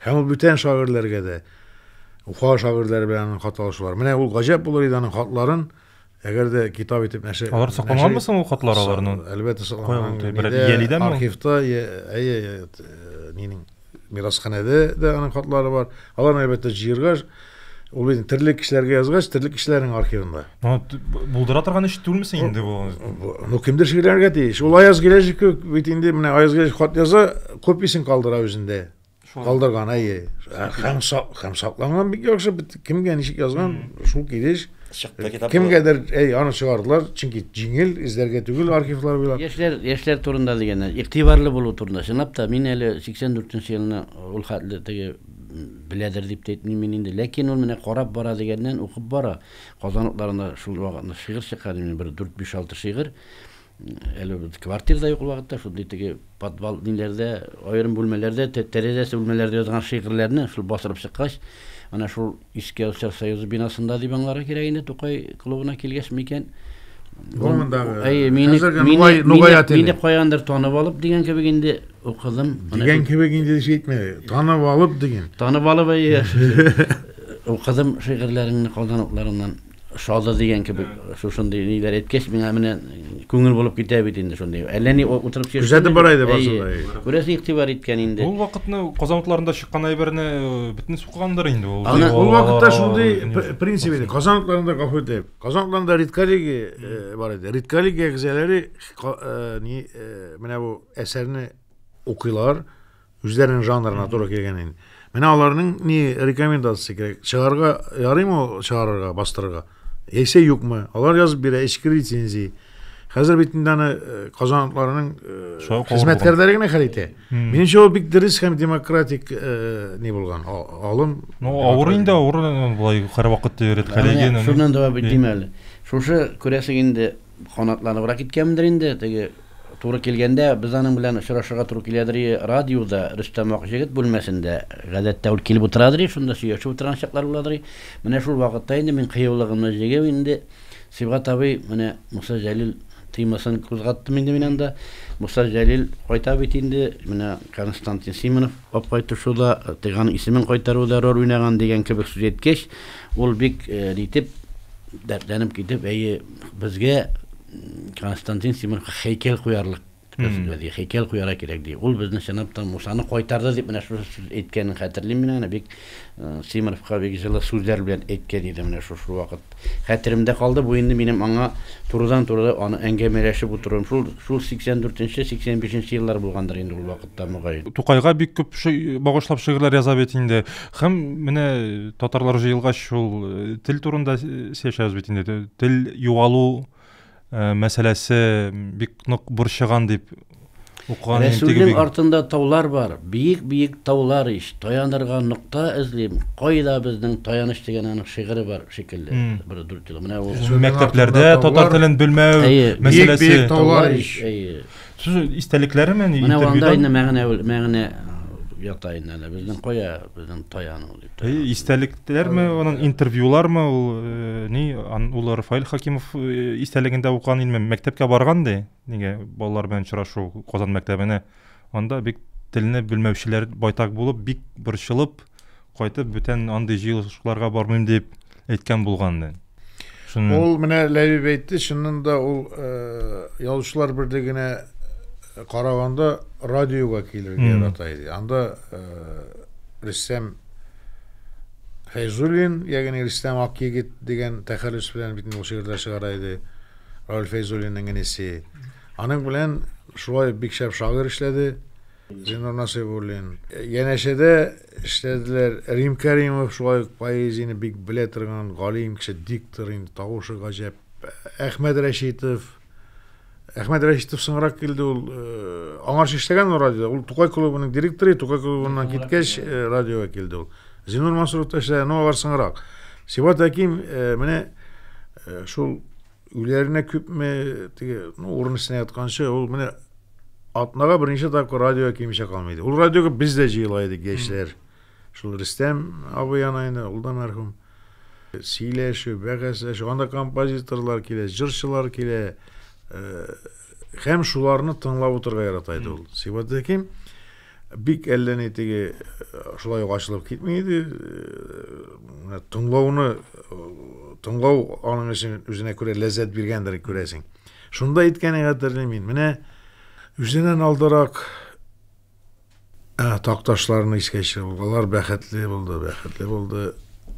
Һәм ул бүтән шагыйрьләргә дә, Уфа шагыйрьләре белән аның хат алышулары. Менә ул гаҗәп булыр иде аның хатларын Әгәр дә китап итеп нәшер... Алар сакланганмы соң ул хатлар аларның? Әлбәттә сакланган. Иялидән ме? Архивта, әйе, э, нинең мирасханәдә дә аның хатлары бар. Алар әлбәттә җыерга ул инде терлек кешеләргә язгач, терлек кешеләрнең архивында. Ну, булдыра торган эш түгелмесең инде бу? Ну, кемдер шикләнергә тиеш. Ул Аяз Гиләҗев кебек бит инде менә Аяз Гиләҗев хат яза, копиясен калдыра үзендә. Калдырган, әйе. Һәм, һәм сакланган бик яхшы, кемгә ничек язган, шул килеш. Чыкты китап. Кемгәдер, әй, аны чыгардылар, чөнки җиңел, эзләргә түгел архивлар буйлап. Яшьләр, яшьләр турында дигәндә, игътибарлы булу турында. Чынлап та, мин әле 84 нче елны ул хәтле теге беләдер дип тә әйтмим мин инде. Ләкин ул менә карап бара дигәннән, укып бара. Казан утларында шул вакытны шигырь чыккан, бер 4-5-6 шигырь. Әле квартир да юк ул вакытта, шундый теге подвал ниләрдә, аерым бүлмәләрдә, тәрәзәсе бүлмәләрдә язган шигырьләрне шул бастырып чыккач, ана шул Иске Алчар союзы бинасында дип аңларга кирәк инде Тукай клубына килгәч микән. Гомендагы. Әй, мине мине мине каяндыр танып алып дигән кебек инде укыдым. Дигән кебек инде җитмә. Танып алып диген. Танып алып әй. Укыдым шигырьләреңне калдан утларыннан. Шады дигән кебек, шушындый ниләр әйткәч, миңа менә күңел булып китә бит инде шундый. Әллә ни утырып сөйләшкән. Күзәтеп бара иде барсын да. Күрәсең, игътибар иткән инде. Ул вакытны Казан утларында чыккан әйберне бөтен суккандыр инде ул. Ул вакытта шундый принцип иде. Казан утларында гафу итегез. Казан утларында редколлегия бар иде. Редколлегия әгъзалары менә бу әсәрне укыйлар, Үзләренең жанрына туры килгән инде. Менә аларның ни рекомендация кирәк? Чыгарга ярыймы ул чыгарырга, бастырырга? Яисә юкмы? Алар язып бирә, эчке рецензия. Хәзер бит инде аны э, казанлыларның э, Шулай калыр хезмәткәрләре генә хәл итә. Минемчә, ул бик дөрес һәм демократик э, ни булган, а- алым. Ну, авыр инде, авыр э, былай һәрвакыт өйрәткәләгән. Менә шуннан да бит дим әле. Шушы күрәсең инде Канатланыбрак киткәнмендер инде, теге туры килгәндә без аның белән очрашырга туры киләдер и радиода, Рөстәм Акҗегет бүлмәсендә, гадәттә ул килеп утырадыр и шунда сөйләшеп утырган чаклар буладыр и Менә шул вакытта инде мин кыюлыгымны җигеп инде Сибгат абый, менә Муса Җәлил темасын кузгаттым инде мин анда Муса Җәлил кайта бит инде, менә Константин Симонов, Апкайту шуда тыйган исемен кайтару зарур уйнаган дигән кебек сүз әйткәч, ул бик нитеп, дәртләнеп китеп, әйе, безгә Константин Симонов хәйкәл куярлык Безгә хәйкәл куярга кирәк, ди. Ул безне чынлап та Мусаны кайтарды дип менә шушы сүз әйткәнен хәтерлим мин аны, бик Симоновка бик җылы сүзләр белән әйткән иде менә шушы вакыт. Хәтеремдә калды, бу инде минем аңа турыдан-туры аны әңгәмәләшеп утыруым. Шул, шул 84-нче, 85-нче еллар булгандыр инде ул вакытта, мөгаен. Тукайга бик күп багышлап шигырьләр яза бит инде. Һәм менә татарлар җыелгач шул тел турында сөйләшәбез бит инде. Тел югалу Э, мәсьәләсе бик нык борчыган дип укыган Рәсүлнең артында таулар бар, биек-биек таулар ич, таянырга нокта эзлим. Кайда безнең таяныч дигән аның шигыре бар шикелле. Бер дүрт ел. Менә ул мәктәпләрдә татар телен белмәү мәсьәләсе. Биек-биек таулар ич. Сүз истәлекләре ме ни? Менә анда инде мәгънә мәгънә ята инде әнә безнең кая безнең таяну дип. Истәлекләрме, аның интервьюлармы ул э, ни ул Рафаил Хакимов э, истәлегендә укыган инде мәктәпкә барган ди. Нигә балалар белән очрашу Казан мәктәбенә. Анда бик телне белмәүчеләр байтак булып, бик борчылып, кайтып бүтән андый җыелышларга бармыйм дип әйткән булганды. Шуны... Ул менә Ләбиб әйтте, чыннан да ул э, язучылар берлегенә э, караганда радиога килергә ярата иде. Анда э, Рөстәм Фәйзуллин, ягъни Рөстәм Акъегет дигән тәхәллүс белән бит ул шигырьләр чыгара иде. Рауль Фәйзуллинның инесе. Аның белән шулай бик шәп шагыйрь эшләде. Зиннур Насыйбуллин. Янәшәдә эшләделәр. Рим Кәримов шулай ук поэзияне бик белә торган галим кеше, диктор инде, тавышы гаҗәп. Әхмәт Рәшитов. Әхмәт Рәшитов соңрак килде ул. Э, аңарчы эшләгән ул радиода. Ул Тукай клубының директоры, Тукай клубыннан киткәч э, радиога килде ул. Зинур Мансуров та эшләгән, но алар соңрак. Сибат Әким э, менә шул Үләренә күпме теге, ну, урын өстенә ятканчы, ул менә атнага берничә тапкыр радиога кимичә калмый иде. Ул радиога без дә җыела идек, яшьләр. Шул Рөстәм абый ана инде, ул да мәрхүм. Сөйләшү, бәхәсләшү, анда композиторлар килә, җырчылар килә. Һәм шуларны тыңлап утырырга ярата иде ул. Сибат Хәким Бик әллә ни теге шулай ук ачылып китми иде. Менә тыңлауны тыңлау аның өчен үзенә күрә ләззәт биргәндер күрәсең. Шунда әйткәнең хәтерлим мин. Менә үзеннән алдарак такташларны искә төшереп, алар бәхетле булды, бәхетле булды.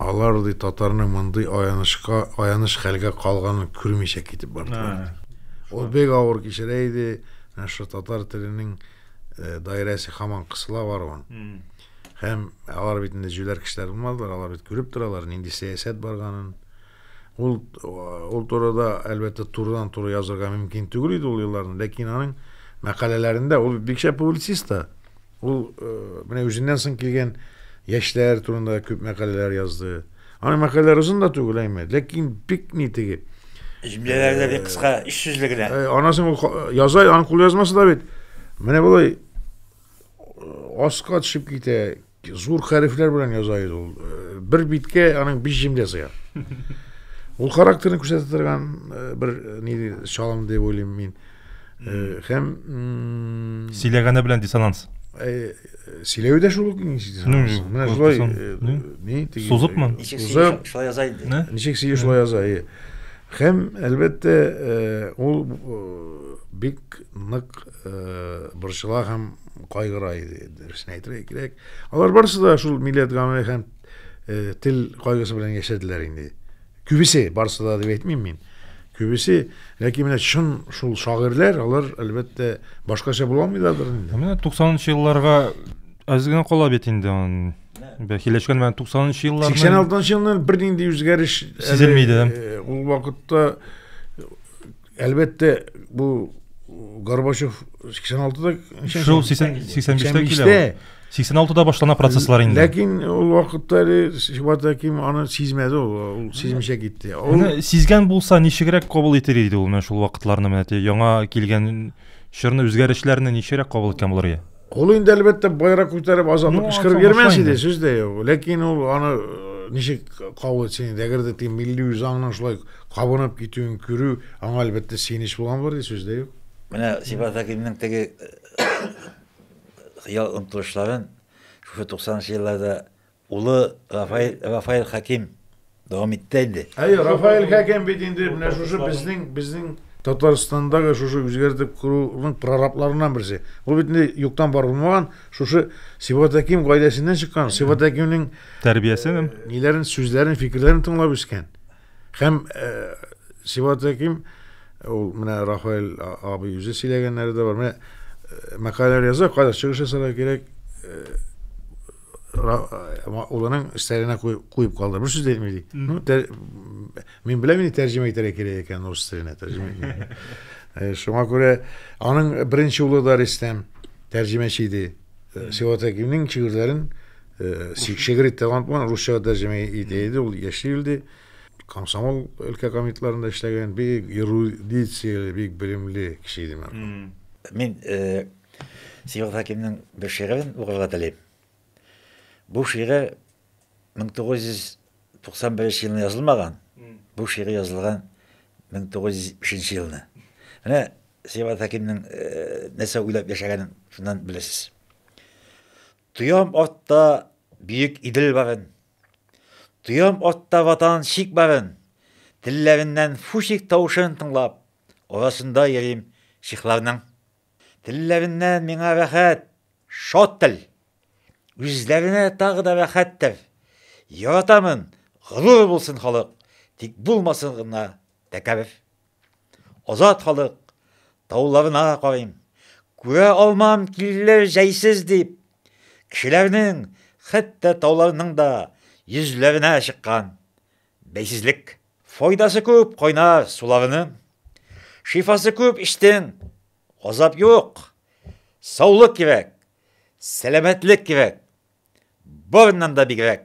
Алар ди татарның мондый аянычка, аяныч хәлгә калганын күрмичә китеп бардылар. Ул бик авыр кичерә иде. Менә шул татар теленең э, даирәсе хаман кысыла баруын һәм алар бит инде җүләр кешеләр булмадылар алар бит күреп торалар нинди сәясәт барганын ул ул турыда әлбәттә турыдан туры язырга мөмкин түгел иде ул елларны ләкин аның мәкаләләрендә ул бик шәп публицист та ул э, менә үзеннән соң килгән яшьләр турында күп мәкаләләр язды Аны мәкаләләр озын да түгел әйме, ләкин бик ни теге. Җөмләләр дә бик кыска, өч сүзле генә. Э, анасын ул яза, аның кул язмасы да бит. Менә болай э, аска төшеп китә, зур хәрефләр белән яза иде ул. Э, бер биткә аның биш җөмлә сыя. Ул характерын күрсәтә торган бер ни чалым дип уйлыйм мин. Э, һәм сөйләгәне белән диссонанс э, сөйләве дә шул ук менә шулай ни сузыпмы сузып шулай яза инде ничек сөю шулай яза э. һәм әлбәттә ул бик нык борчыла һәм кайгыра иде дөресен әйтергә кирәк алар барысы да шул милләт гамәле һәм тел кайгысы белән яшәделәр инде Күбесе, барысы да дип әйтмим мин. Күбесе, ләкин менә чын шул шагыйрьләр, алар әлбәттә башкача була алмыйлардыр инде. Менә 90-нчы елларга аз гына кала бит инде аны. Бәхиләшкән менә 90-нчы елларны. 86-нчы елны бернинди үзгәреш сизелмиде. Э, ул вакытта Әлбәттә, бу Горбачев 86-да Шул 85-тә килә. 86-да башлана процесслар инде. Ләкин ул вакытта әле Шибат Хәким аны сизмәде ул, ул сизмичә китте. Ул... Менә сизгән булса, ничегрәк кабул итер иде ул менә шул вакытларны менә яңа килгән чорны үзгәрешләрне ничегрәк кабул иткән булыр иде? Ул инде әлбәттә байрак күтәреп азатлык кычкырып йөрмәс иде, сүз дә юк. Ләкин ул аны э, ничек кабул итсен инде, әгәр дә тиң милли үзаңның шулай кабынып китүен күрү, аңа әлбәттә сөенеч булган булыр иде, сүз дә юк. Менә Сибат Хәкимнең теге э, хыял омтылышларын шушы 90 нчы елларда Улы Рафаэль, Рафаэль Хәким дәвам итте инде. Әйе, Рафаэль Хәким бит инде менә шушы безнең, безнең Татарстандагы шушы үзгәртеп коруның прорабларыннан берсе. Ул бит инде юктан бар булмаган, шушы Сибгат Хәким гаиләсеннән чыккан, Сибгат Хәкимнең тәрбиясен, ниләрен, сүзләрен, фикерләрен тыңлап үскән. Һәм Сибаты ким, ул менә Рафаэль абый үзе сөйләгәннәре дә бар. Менә мәкаләләр яза, кайда чыгыш ясарга кирәк, улының стәленә куеп калды. Бер сүз әйтми ди. Ну, тәр... мин беләм инде тәрҗемә итәргә кирәк икән рус теленә тәрҗемә. Шуңа күрә аның беренче улы да Рөстәм тәрҗемәче иде. Сибаты кимнең шигырьләрен Э, Сигшегри талант бар, русча тәрҗемә итә иде, ул яши үлде. Комсомол өлкә комитетларында эшләгән бик эрудицияле, бик белемле кеше иде мен. Мин э, Сигел Хакимның бер шигырен укырга телим. Бу шигырь 1991 елны язылмаган. Бу шигырь язылган 1970 елны. Менә Сибат Хәкимнең нәрсә уйлап яшәгәнен шуннан беләсез. Тоям атта бөек Идел барын. Тоям атта Ватан чик барын. Телләреннән фучик тавышын тыңлап, арасында йөрим чехларның. Телләреннән миңа рәхәт, шат тел. Үзләренә тагы да рәхәттер. Яратамын, горур булсын халык, тик булмасын гына тәкәбер. Азат халык тауларына карыйм. Күрә алмам киллер җәйсез дип. Кешеләрнең, хәтта тауларның да йөзләренә чыккан бәйсезлек. Файдасы күп кайнар суларының. Шифасы күп эчтең, азап юк. Саулык кирәк, сәламәтлек кирәк. Барыннан да бигрәк.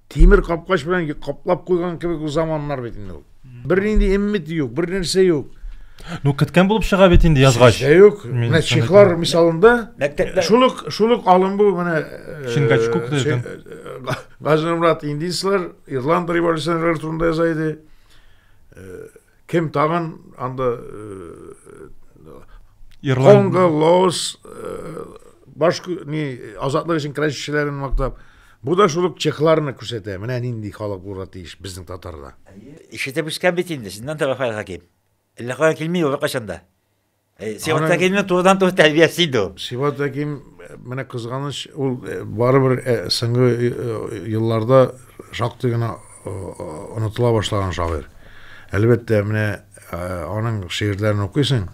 Тимер капкач белән каплап куйган кебек заманнар бит инде ул. Бернинди эммит юк, бер нәрсә юк. Ну, көткән булып чыга бит инде язгач. Чишә юк. Менә чехлар мисалында мәктәптә шул ук шул ук алым бу менә э, Шингачкук дигән. Э, Газнурмрат индислар, Ирланд революционерлары турында яза иде. Э, Кем тагын анда Конго, Лаос, баш ни азатлык өчен көрәшчеләрен мактап, бу да шул ук чехларны күрсәтә. Менә нинди халык булырга тиеш безнең татарда. Ишетеп үскән бит инде, чыннан да, Рафаэль Хаким. Әллә каян килми ул, беркайчан да. Э, Сибат Әкимнең турыдан туры тәрбиясе иде ул. Сибат Әким э, менә кызганыч, ул э, барыбер соңгы елларда шактый гына онытыла башлаган шагыйрь. Әлбәттә, менә аның шигырьләрен укыйсың,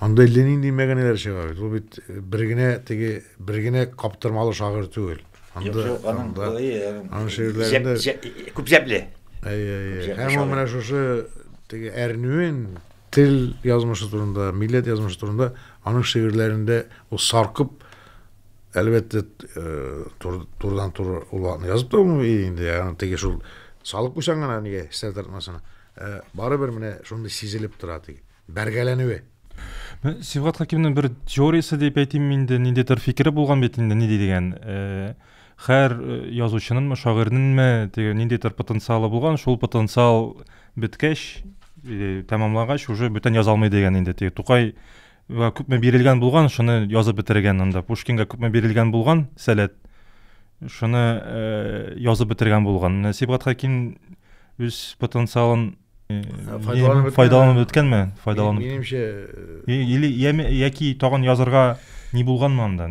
анда әллә нинди мәгәнәләр чыга бит. Ул бит бер генә теге бер генә каптырмалы шагыйрь түгел. Анда аның шигырьләрендә күп җәпле. Әйе, әйе. Һәм ул менә шушы теге әрнүен Тел язмышы турында, милләт язмышы турында аның шигырьләрендә ул саркып, әлбәттә, турыдан-туры ул вакытны язып та булмый инде, ягъни теге шул салып куйсаң гына нигә хисләр тартмасына. Ә барыбер менә шундый сизелеп тора теге бәргәләнүе. Сибгат Хәкимнең бер теориясе дип әйтимме инде, ниндидер фикере булган бит инде, ни дигән, Хәр язучынынмы, шагыйрьненме теге ниндидер потенциалы булган, шул потенциал беткәч, или тәмамлагач, уже бүтән яза алмый дигән инде. Теге Тукай күпме бирелгән булган, шуны язып бетергән анда. Пушкинга күпме бирелгән булган, сәләт, шуны э, язып бетергән булган. Сибгат Хаким үз потенциалын файдаланып файдаланып үткәнме файдаланып минемчә или яки тагын язырга ни булганмы анда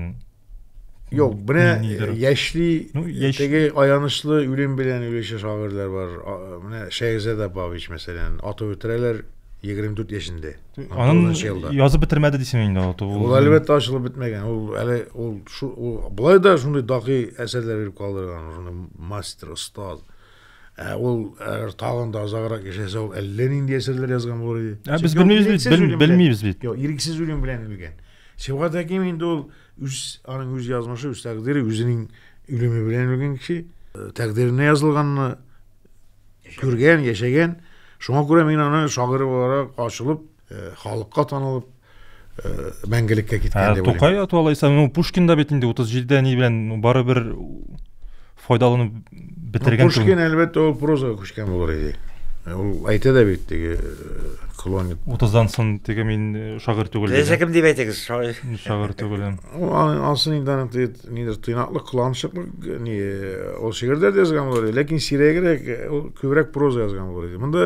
Юк, менә яшьли, ну, яшь... теге аянычлы үлем белән үлеше шагыйрьләр бар. Менә Шәйгъзәд Апавич, мәсәлән, атып үтерәләр 24 яшендә. Анын язып бетермәде дисең инде ул. Ул әлбәттә ачылып бетмәгән. Ул әле ул шу ул былай да шундый дакый әсәрләр биреп калдырган, шундый мастер, остаз. Ә ул әгәр тагын да озаграк яшәсә, ул әллә нинди әсәрләр язган булыр иде. Ә без белмибез бит, бел, белмибез бит. Юк, ирексез үлем белән үлгән. Сибгат Хәким инде ул үз аның үз язмышы, үз тәкъдире, үзенең үлеме белән үлгән кеше, э, тәкъдиренә язылганны күргән, яшәгән. Шуңа күрә мин аны шагыйрь буларак ачылып халыкка танылып мәңгелеккә киткән дип тукай ату алайса ну пушкин да бит инде утыз җидедә ни белән барыбер файдаланып бетергән пушкин әлбәттә ул прозага күчкән булыр иде ул әйтә дә бит теге клонит утыздан соң теге мин шагыйрь түгел теләсә кем дип әйтегез шагыйрь шагыйрь түгел анысы инде аның нидер тыйнаклык кыланычыклык ни ул шигырьдә дә язган булыр иде ләкин сирәгрәк ул күбрәк проза язган булыр иде монда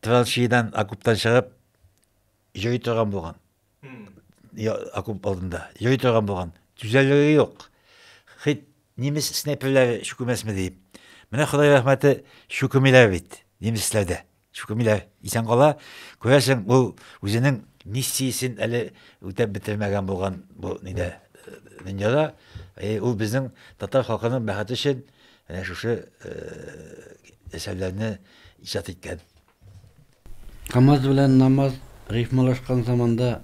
Траншеидан, окоптан чыгып, йөри торган булган. Окоп алдында. Йөри торган булган. Түзәлеге юк. Хит немец снайперләре чүкемәсме диеп. Менә Ходай рәхмәте чүкемиләр бит. Немецләр дә чүкемиләр. Исән кала, күрәсең, ул үзенең миссиясен әле үтәп бетермәгән булган бу нидә дөньяда. Ул безнең татар халкының бәхете өчен Әнә шушы әсәрләрне иҗат иткән. Камаз белән намаз рифмалашкан заманда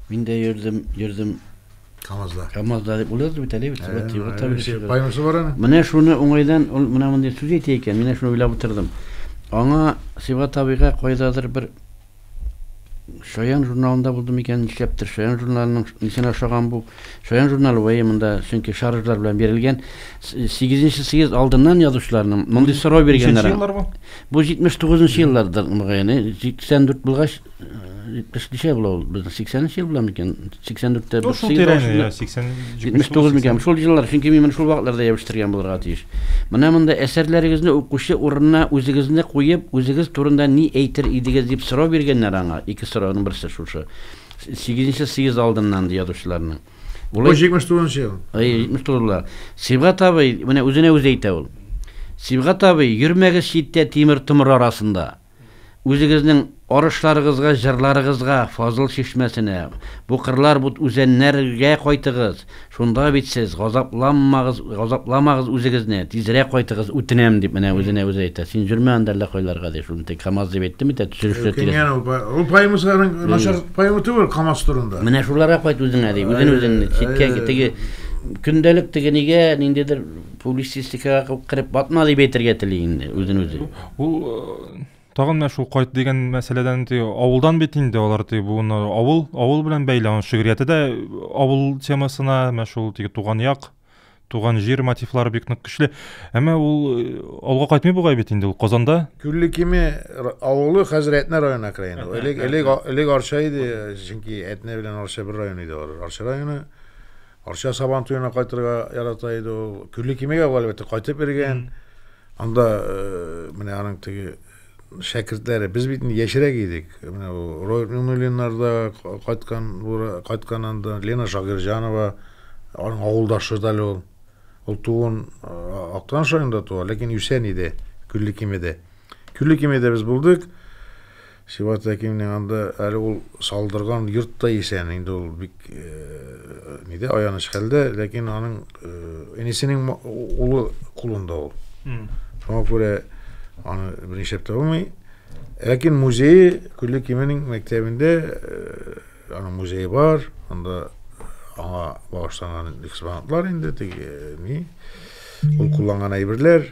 мин дә йөрдем, йөрдем. Камазда. Камазда дип уйлады бит әле бит. Поэмасы бар аны. Менә шуны уңайдан ул менә мондый сүз әйтә икән, мин шуны уйлап утырдым. Аңа Сыйфат абыйга кайдадыр бер Шаян журналында булды микән, нишләптер Шаян журналының нисенә ошаган бу? Шаян журналы вәе монда, чөнки шаржлар белән бирелгән. 8-нче съезд алдыннан язучыларның мондый сорау биргәннәр. еллар бу? Бу 79-нчы елларда мөгаен, 84 булгач, 70 ничә була ул? Безнең 80-нче ел була микән? 84 тә бер съезд. 80 79 микән? Шул еллар, чөнки мин моны шул вакытларда ябештергән булырга тиеш. Менә монда әсәрләрегезне укучы урынына үзегезне куеп, үзегез турында ни әйтер идегез дип сорау биргәннәр аңа. Ике сорауның берсе шушы. Сигезенче съезд алдыннан, ди язучыларның. Бу 79 ел. Әй, 79 ла. Сибгат абый, менә үзенә үзе әйтә ул. Сибгат абый, йөрмәгез читтә тимер томыр арасында. Үзегезнең арышларыгызга, җырларыгызга, Фазыл чишмәсенә, бу кырлар, бу үзәннәр гә кайтыгыз, шунда бит сез, газапланмагыз, газапламагыз үзегезне, тизрәк кайтыгыз, үтенәм, дип менә үзенә үзе әйтә. Син җөрмә анда әллә кайларга, ди, шуны тик Камаз дип әйттем бит, ә төшерешләр тирәсе. Үкенгән ул, ул поэмасы аның начар поэма түгел Камаз турында. Менә шуларга кайт үзеңә, ди, үзен-үзең читкә, теге көндәлек теге нигә, ниндидер, Публицистикага кереп батма дип әйтергә тели инде үзен үзе. Ул тагын менә шул кайт дигән мәсьәләдән ди авылдан бит инде алар ди буны авыл авыл белән бәйле аның шигърияте дә авыл темасына менә шул теге туган як туган җир мотивлары бик нык көчле әмма ул э, алга кайтмый бугай бит инде ул казанда күлле кеме авылы хәзер әтнә районына керә инде элек элек элек арча иде чөнки әтнә белән арча бер район иде алар арча районы Арча Сабан туена кайтырга ярата иде ул. Күлле Кимегә ул әлбәттә кайтып йөргән. Анда э, менә аның теге шәкертләре. Без бит инде яшьрәк идек. Менә бу Роберт Миңнуллиннар да кайткан, кайткан анда. Лена Шагирҗанова, аның авылдашы да әле ул. Ул туын э, Актан шайында туа, ләкин үсән иде Күлле Кимедә. Күлле Кимедә без булдык. Сибгат Зәкимнең анда әле ул салдырган йорт та исән, инде ул бик нидә, аяныч хәлдә, ләкин аның энесенең улы кулында ул. Шуңа күрә аны бернишләп тә булмый. Ләкин музее Күлле Кименең мәктәбендә аның музее бар, анда аңа багышланган экспонатлар инде, теге ни, ул кулланган әйберләр.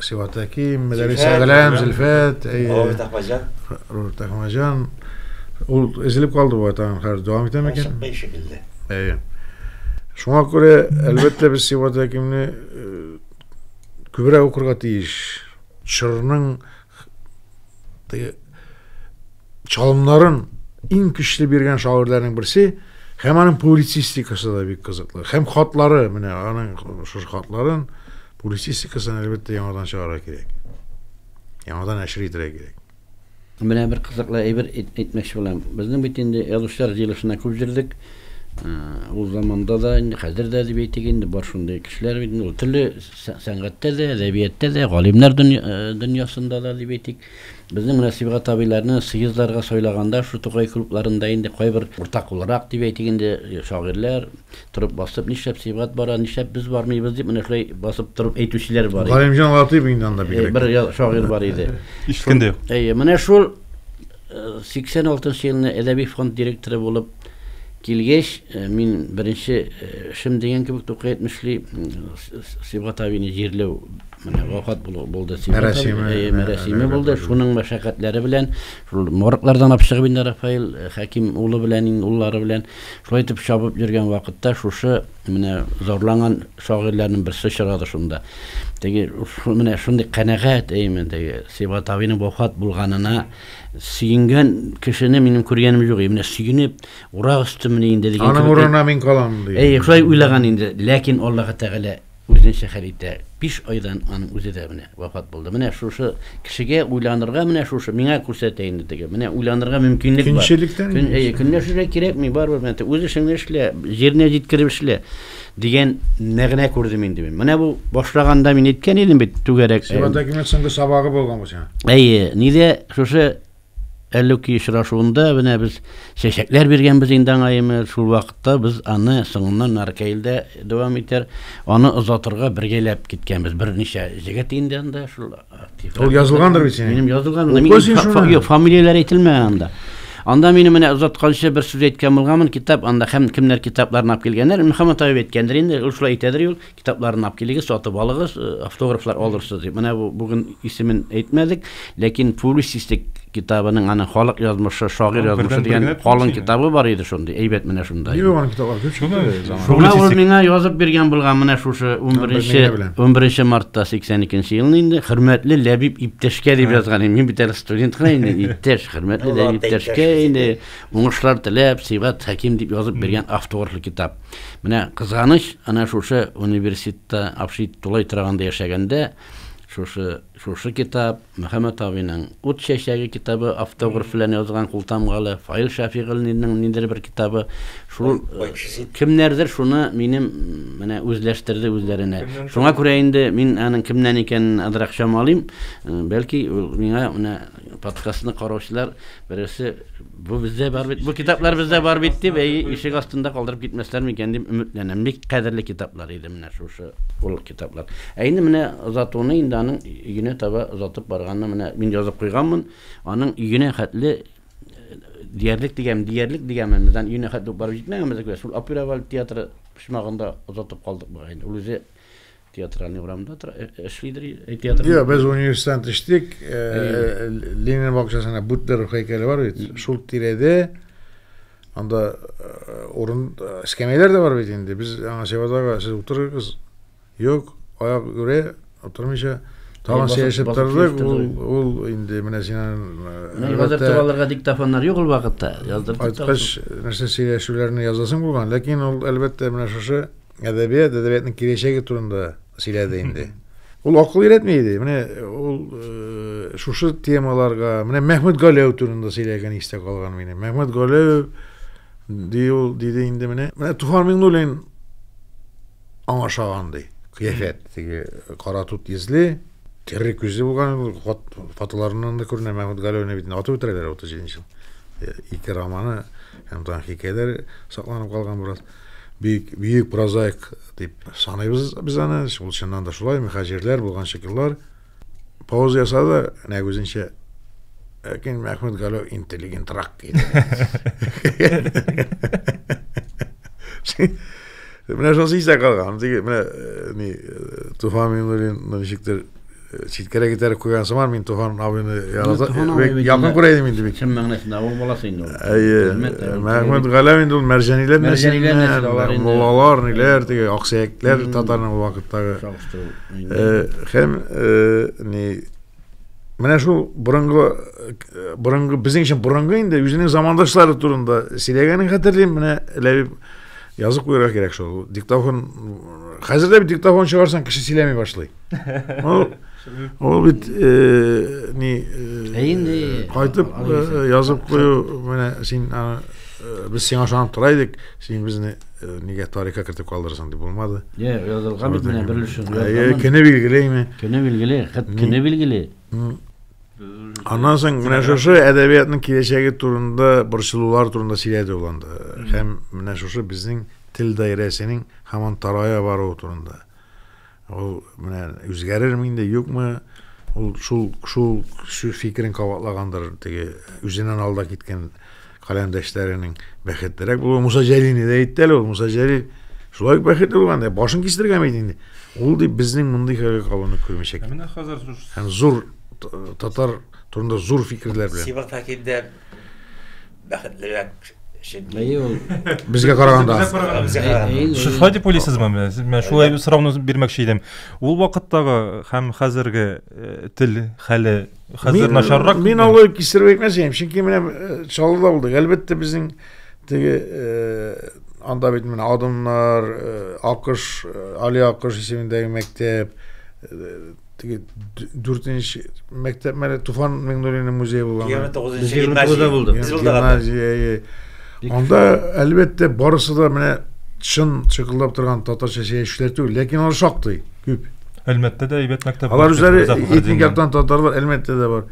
Сиватаки, Мәдәрис Әгъләм, Зөлфәт, Роберт Ахмаҗан. Роберт Ахмаҗан. Ул эзелеп калды бу атаң, хәзер дәвам итә микән? Чыкмый шикелле. Әйе. Шуңа күрә, әлбәттә, без Сиват Әкимне күбрәк укырга тиеш. Чорның чалымнарын иң көчле биргән шагыйрьләрнең берсе һәм аның публицистикасы да бик кызыклы. Һәм хатлары, менә аның шушы хатларын Публицистикасын, әлбәттә, яңадан чыгарырга кирәк. Яңадан нәшер итәргә кирәк. Менә бер кызыклы әйбер әйтмәкче булам. Безнең бит инде язучылар җыелышына күп җөрдек. Ул заманда да, инде хәзер дә дип әйтик инде, бар шундый кешеләр бит. Ул төрле сәнгатьтә дә, әдәбияттә дә, галимнәр дөньясында да дип әйтик. Безнең Нәсыйбгат абыйларны съездларга сайлаганда шул Тукай клубларында инде кайбер уртак буларак дип әйтик инде, шагыйрьләр торып басып, нишләп Сибгат бара, нишләп без бармыйбыз дип менә шулай басып торып әйтүчеләр бар иде. Галимҗан Латыйп инде анда бигрәк. Бер шагыйрь бар иде. Ишеткән дә юк. Әйе, менә шул 86 нчы елны әдәби фонд директоры булып килгәч, мин беренче эшем дигән кебек Тукай әйтмешли Сибгат абыйны җирләү. Менә вафат булды. Мәрәсиме, э, мәрәсиме булды. Шуның мәшәкатьләре белән, шул морглардан алып чыгып инде Рафаил э, Хәким улы белән, иң уллары белән шулай итеп чабып йөргән вакытта шушы менә зарланган шагыйрьләрнең берсе чыгады шунда. Теге менә шундый канәгать әйме теге Сибат абыйның вафат булганына сөенгән кешене минем күргәнем юк. Менә сөенеп, урак өстемне инде дигән. Аның урынына мин калам ди. Әй, шулай уйлаган инде. Ләкин Аллаһы Тәгалә Үзенчә хәл итә. Биш айдан аның үзе дә менә вафат булды. Менә шушы кешегә уйланырга, менә шушы, миңа күрсәтә инде теге, менә уйланырга мөмкинлек бар. Көнчелектән Көн, әйе, көнләшергә кирәкми, барыбер менә теге, үз эшеңне эшлә, җиренә җиткереп эшлә, дигән мәгънә күрдем инде мин. Менә бу башлаганда мин әйткән идем бит, түгәрәк Сиңа документ соңгы сабагы булган бу сиңа. Әйе, нидә шушы Әллүки очрашуында менә без чәчәкләр биргәнбез инде аңа яме, шул вакытта без аны соңыннан Наркәйлдә дәвам итәр, аны озатырга бергәләп киткәнбез. Берничә җегет инде анда шул актив. Ул язылгандыр бит синең. Минем язылган. Мин фамилияләр әйтелмәгән анда. Анда мине менә озатканчы бер сүз әйткән булганмын, китап анда һәм кемнәр китапларны алып килгәннәр, Мөхәммәт Аюп әйткәндер инде, ул шулай әйтәдер юл, Китапларны алып килегез, сатып алыгыз, э, автографлар алырсыз дип. Менә бу бүген исемен әйтмәдек, ләкин публицистик китабының аны халык язмышы, шагыйрь Ул язмышы бердән-бер дигән генә калын публицистик. китабы бар иде шундый. Әйбәт менә шунда. Нигә аны китаплар күп Шуны чыкты? заман- Шуңа ул Публицистик. миңа язып биргән булган менә шушы Мин генә 11 беләм. 11 мартта 82 елны инде хөрмәтле Ләбиб иптәшкә дип язган идем. Мин бит әле студент кына инде, иптәш, хөрмәтле Ул Ләбиб ата иптәшкә иптәш. инде уңышлар теләп, Сибгат Хәким дип язып биргән автографлы китап. Менә кызганыч, ана шушы университетта Афшит тулай тораганда яшәгәндә, шушы шушы китап, Мөхәммәт абыйның Ут чәчәге китабы автограф белән язган култамгалы, Фаил Шәфигыллинның ниндер бер китабы, шул кемнәрдер шуны минем менә үзләштерде үзләренә. Шуңа күрә инде мин аның кемнән икәнен азрак чамалыйм. Бәлки миңа менә подкастны караучылар Бересе, бу бездә бар бит, бу китаплар бездә бар бит дип, әй, ишек астында калдырып китмәсләр микән дип өметләнәм. Бик кадерле китаплар иде менә шушы ул китаплар. Ә инде менә озатуны инде аның өенә таба озатып барганны менә мин язып куйганмын. Аның өенә хәтле диярлек дигән, диярлек дигәнмен, бездән өенә хәтле барып җитмәгәнбез, шул Апирабал театры почмагында озатып калдык бугай. Ул үзе Театральный урамда тора, э, э, эшлидер э, театр. Йо, без университеттан төштек. Ленин бакчасында Буддер һәйкәле бар бит. Шул тирәдә анда урын эскәмияләр дә бар бит инде. Без аңа Севадага сез утырыгыз. Юк, аяк үрә, утырмыйча Тагын сөйләшеп тордык, ул, ул инде менә синен... Яздыртып алырга диктофоннар юк ул вакытта. Яздыртып. Айткач, нәрсә сөйләшүләрне язасың булган, ләкин ул әлбәттә менә шушы Әдәбият, әдәбиятның киләчәге турында сөйләде инде. Ул акыл өйрәтми иде. Менә ул э, шушы темаларга, менә Мәхмүт Галәү турында сөйләгән истә калган мине. Мәхмүт Галәү ди ул диде инде менә. Менә Туфан Миңнуллин аңа шаган ди. Кыяфәт, теге кара тут йөзле, терри күзле булган, фотоларыннан да күренә Мәхмүт Галәүне бит атып үтерәләр 37 ел. Ике романы һәм тагын хикәяләр сакланып калган бераз. бик бөек прозаик дип саныйбыз без аны. Ул чыннан да шулай, мөхәҗирләр булган шикелләр. Пауза ясады, нәкъ үзенчә Ләкин Мәхмүт Галәү интеллигентрак иде. Менә шусы истә калган. Менә э, ни э, Туфан Миннуллинны ничектер Читкәрәк итәрәк куйган сыман, мин Туфан абыйны ярата, якын күрә идем инде бит. Чын мәгънәсендә авыл баласы инде ул. Әйе. Мәхмүт Галәм инде ул мәрҗәниләр нәселеннән, муллалар, ниләр теге аксөякләр татарның ул вакыттагы. Һәм ни Менә шул борынгы борынгы безнең өчен борынгы инде үзенең замандашлары турында сөйләгәнен хәтерлим. Менә Ләбиб язып куярга кирәк шул. Диктофон хәзер дә диктофон чыгарсаң кеше сөйләми башлый. Ул бит э, ни э, инде кайтып э, язып кую менә син без сиңа ышанып тора идек, син безне нигә тарихка кертеп калдырасың дип булмады. Йә, язылган бит менә бер өлешен. Әйе, көне билгелеме? Көне билгеле, хәт көне билгеле. Аннан соң менә шушы әдәбиятның киләчәге турында, борчылулар турында сөйләде ул анда. Һәм менә шушы безнең тел даирәсенең һаман тарая баруы турында. Ул менә үзгәрерме инде, юкмы? Ул шул шул фикерен кабатлагандыр теге үзеннән алда киткән каләмдәшләренең бәхетлерәк булуы. Муса Җәлилне дә әйтте әле ул. Муса Җәлил шулай ук бәхетле булган да, башын кистергән бит инде. Ул дип безнең мондый хәлгә калуны күрмәячәк. Менә хәзер һәм зур татар турында зур фикерләр белән. Сибат Хәкимдән бәхетлерәк чөнки Әйе ул. Безгә караганда. Безгә караганда. Безгә караганда. Сез шулай дип уйлыйсызмы? Мин шулай сорауны бирмәкче идем. Ул вакыттагы һәм хәзерге э, тел хәле хәзер начаррак. Мин алай кистереп әйтмәсәм, чөнки менә э, Чаллыда булдык. Әлбәттә, безнең теге э, анда бит менә Адымнар, Акыш, Али Акыш исемендәге мәктәп, теге дүртенче мәктәп мәле туфан миңнуллинның музее булган егерме тугызынчы гимназия булды гимназия анда әлбәттә барысы да менә чын чыкылдап торган татарча чәчүчеләр түгел ләкин алар шактый күп әлмәттә дә әйбәт мәктәп алар үзләре этник яктан татарлар әлмәттә дә бар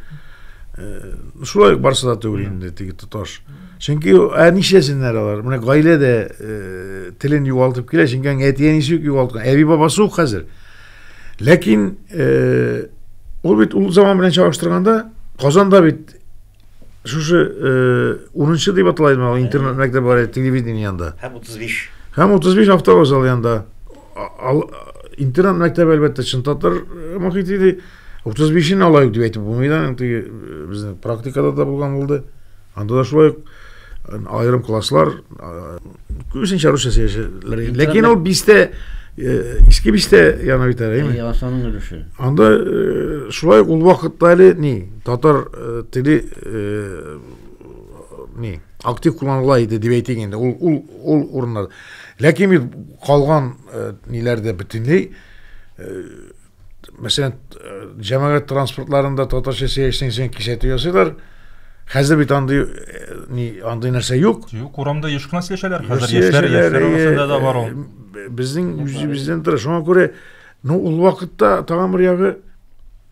э, шулай барысы да түгел инде теге тоташ чөнки ә нишләсеннәр алар менә гаилә дә э, телен югалтып килә чөнки әти әнисе үк югалткан әби бабасы юк хәзер Ләкин ул бит ул заман белән чагыштырганда Казанда бит шушы унынчы дип атала иде ул интернет мәктәбе бар иде телевидение янында. Һәм 35. Һәм 35 автовокзал янында. Интернет мәктәбе әлбәттә чын татар мохит иде. 35-ен алайык дип әйтеп булмый да, теге безнең практикада да булган булды. Анда да шулай аерым класслар күбесенчә русча сөйләшәләр. Ләкин ул бистә иске бистә яна бит әле. Әйе, асаның өлеше. Анда шулай ул вакытта әле ни, татар теле ни, актив кулланыла иде дип әйтик инде. Ул ул ул урыннар. Ләкин бит калган ниләрдә бөтенләй мәсәлән, җәмәгать транспортларында татарча сөйләшсәң, син кисәтү ясыйлар. Хәзер бит андый ни андый нәрсә юк. Юк, урамда еш кына сөйләшәләр. Хәзер яшьләр яшьләр арасында да бар ул. Безнең үзебездән тора. Шуңа күрә, ну, ул вакытта тагын бер ягы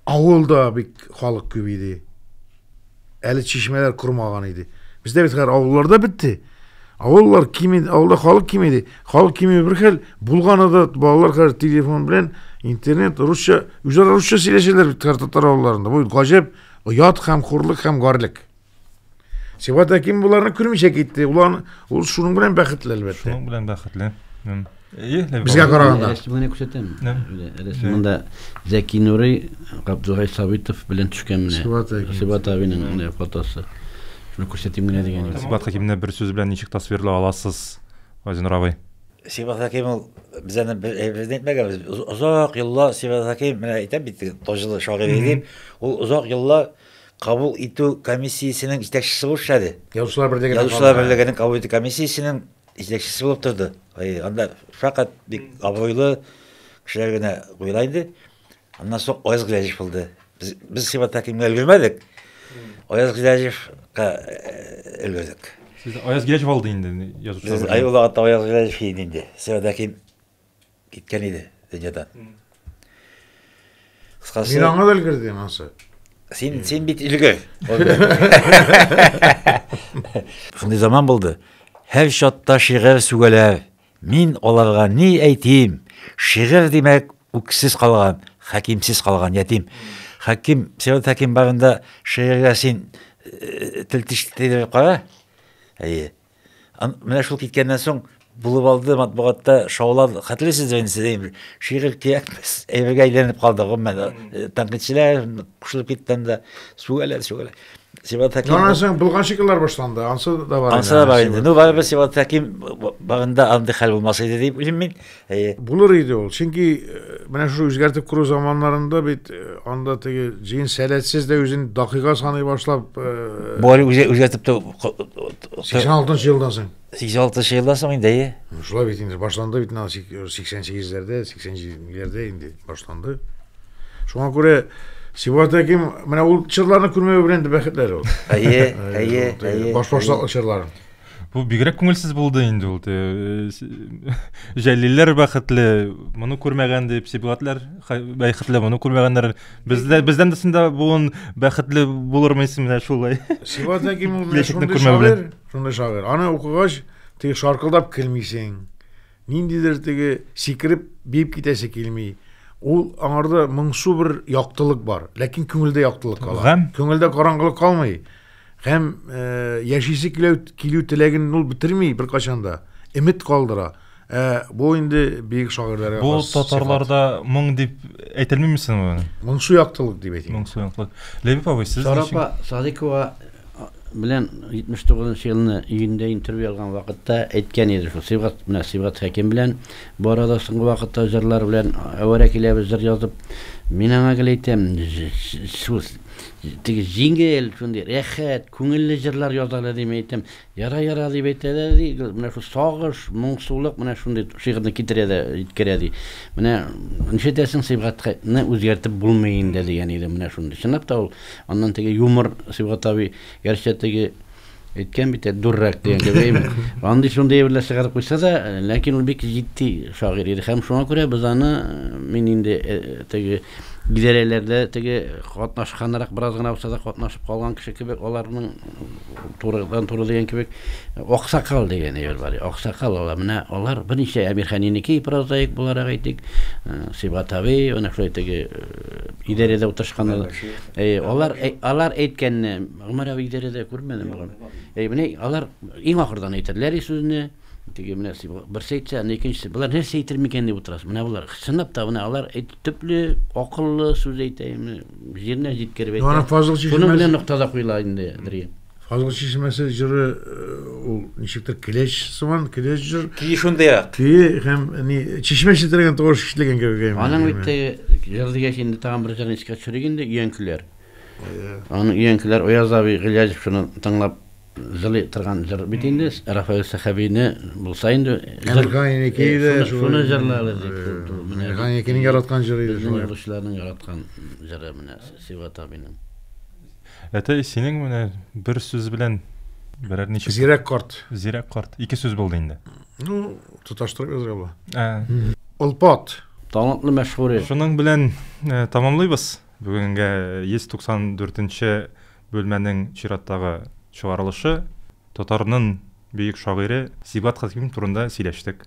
авылда бик халык күп иде. Әле чишмәләр кормаган иде. Бездә бит хәзер авылларда бетте. Авыллар кими, авылда халык кими иде. Халык кими бер хәл, булганы да балалар хәзер телефон белән интернет, русча, үзара русча сөйләшәләр бит хәзер татар авылларында. Бу гаҗәп, оят һәм хурлык һәм гарлек. Сибат Әким боларны күрмичә китте. Улан, ул шуның белән бәхетле әлбәттә. Шуның белән бәхетле. Безгә караганда. Рәсемгә күрсәтәм. Рәсемендә Зәки Нурый, Габдулгай Сабитов белән төшкән менә. Сибат абының менә фотосы. Шуны күрсәтим генә дигән идем. Сибат Хәкимне бер сүз белән ничек тасвирлый аласыз, Газинур абый? Сибат Хәким ул без аны бер әйберне әйтмәгән без. Озак еллар Сибат Хәким менә әйтәм бит, таҗлы шагыйрь иде. Ул озак еллар кабул итү комиссиясенең җитәкчесе булып эшләде. Язучылар берлегенең. Язучылар берлегенең кабул итү комиссиясенең Җитәкчесе булып торды. Анда фәкать бик абруйлы кешеләр генә куела иде. Аннан соң Аяз Гыйләҗев булды. Без, без Сибатта кимгә өлгермәдек. Аяз Гыйләҗевка өлгердек. Сез Аяз Гыйләҗев алды инде язучылар. Ай улагатта Аяз Гыйләҗев инде. Сибатта ким киткән иде дөньядан. Кыскасы, Мин аңа белгердем ансы. Син син бит илгә. Шундый заман булды. Һәр чатта шигырь сүгәләр. Мин аларга ни әйтим? Шигырь димәк, үксез калган, хәкимсез калган ятим. Хәким, Сират Хәким барында шигырьгә син э, тел тиштеләр кара. Әйе. Менә шул киткәннән соң булып алды матбугатта шаулар хәтерлисез инде сез бер шигырь кирәк әйбергә әйләнеп калды гомумән э, тәнкыйтьчеләр кушылып китте анда сүгәләр сүгәләр Сибат Хәким Аннан соң булган шикелләр башланды ансы да бар ансы да бар инде ну барыбер Сибат Хәким багында андый хәл булмас иде дип уйлыйм мин Әйе. Булыр иде ул, чөнки э, менә шушы үзгәртеп кору заманнарында бит э, анда теге җыен сәләтсез дә үзен дакыйга саный башлап, э, Бу әле үзе үзгәртеп тә 86 елдан соң. 86 елдан соң инде, әйе. Ну, Шулай бит инде башланды бит менә 88-ләрдә, 87-ләрдә инде башланды. Шуңа күрә Сибат Әким менә ул чырларны күрмәве белән дә бәхетләр ул. Әйе, әйе, әйе. Баш башлаклы чырларын. Бу бигрәк күңелсез булды инде ул. Э, Җәлилләр бәхетле, моны күрмәгән дип, Сибгатлар бәхетле, моны күрмәгәннәр. Бездә бездән дисендә буын бәхетле булырмы исем менә шулай. Сибгат Зәким ул менә шундый шагыйрь, шундый шагыйрь. Аны укыгач, теге шаркылдап килмисең. Ниндидер теге сикереп, биеп китәсе килми. Ул аңарда моңсу бер яктылык бар, ләкин күңелдә яктылык кала. Күңелдә караңгылык калмый. Һәм э, яшисе килү, килү теләген ул бетерми беркайчан да. Өмет калдыра. Ә бу инде бөек шагыйрьләргә Бу хас татарларда моң дип әйтелми мисең ул? Моңсу яктылык дип әйтим. Моңсу яктылык. Ләбиб абый, сез Шарапа Садикова белән 79 елны июньдә интервью алган вакытта әйткән иде шул Сибгат менә Сибгат Хәким белән бу арада соңгы вакытта җырлар белән әвәрә киләбез җыр язып мин аңа гел әйтәм шул Теге җиңел, шундый рәхәт, күңелле җырлар яза әле дим әйтәм. Яра, яра дип әйтә дә, ди, менә шул сагыш, моңсулык менә шундый шигырьне китерә дә җиткерә, ди. Менә нишетәсең, Сибгатны үзгәртеп булмый инде, дигән иде менә шундый. Чынлап та ул аннан теге юмор Сибгат абый, гәрчә теге, Әйткән бит, дуррак дигән кебек. Андый шундый әйберләр чыгарып куйса да, ләкин ул бик җитди шагыйрь иде һәм шуңа күрә без аны мин инде теге идарәләрдә теге катнашканрак бераз гына булса да катнашып калган кеше кебек аларның турыдан туры дигән кебек аксакал дигән әйбер бар аксакал алар менә алар берничә әмирханинеке прозаик буларак әйтик сибат абый менә шулай теге идарәдә утырышкан алар алар әйткәнне Гомәр абый идарәдә күрмәдем бүген. Әй, менә алар иң ахырдан әйтерләр и сүзне. Теге менә берсе әйтсә, аны икенчесе. Болар нәрсә әйтер микән дип утырасыз. Менә болар чынлап та менә алар төпле, акыллы сүз әйтә, менә җиренә җиткереп әйтә. Ана Фазыл чишмәсе. Шуның белән нокта да куела инде, Андрей. Фазыл чишмәсе җыры ул ничектер килеш сыман, килеш җыр. Ки шундый ак. Ки һәм ни чишмә читергән тавыш ишетелгән кебек. Аның бит җыр дигәч инде тагын бер җырын искә төшерик инде, Өянкеләр. Аны өянкеләр Ояз абый Гыйләҗев шуны тыңлап җылый торган җыр бит инде. Рафаэль Сәхәбине булса инде җыр. Ганинеке иде. Шуны җырлады дип. Ганинекенең яраткан җыры иде. Безнең язучыларның яраткан җыры менә Сибгат абыйның. Әтәй, синең менә бер сүз белән берәр ничек Зирәк карт. Зирәк карт. Ике сүз булды инде. Ну, тоташтырып язырга була. Олпат. Талантлы Мәшһүри. Шуның белән тәмамлыйбыз. Бүгенгә 194 нче бүлмәнең чираттагы чыгарылышы татарнын бөек шагыйре Сибгат Хәким турында сөйләштек.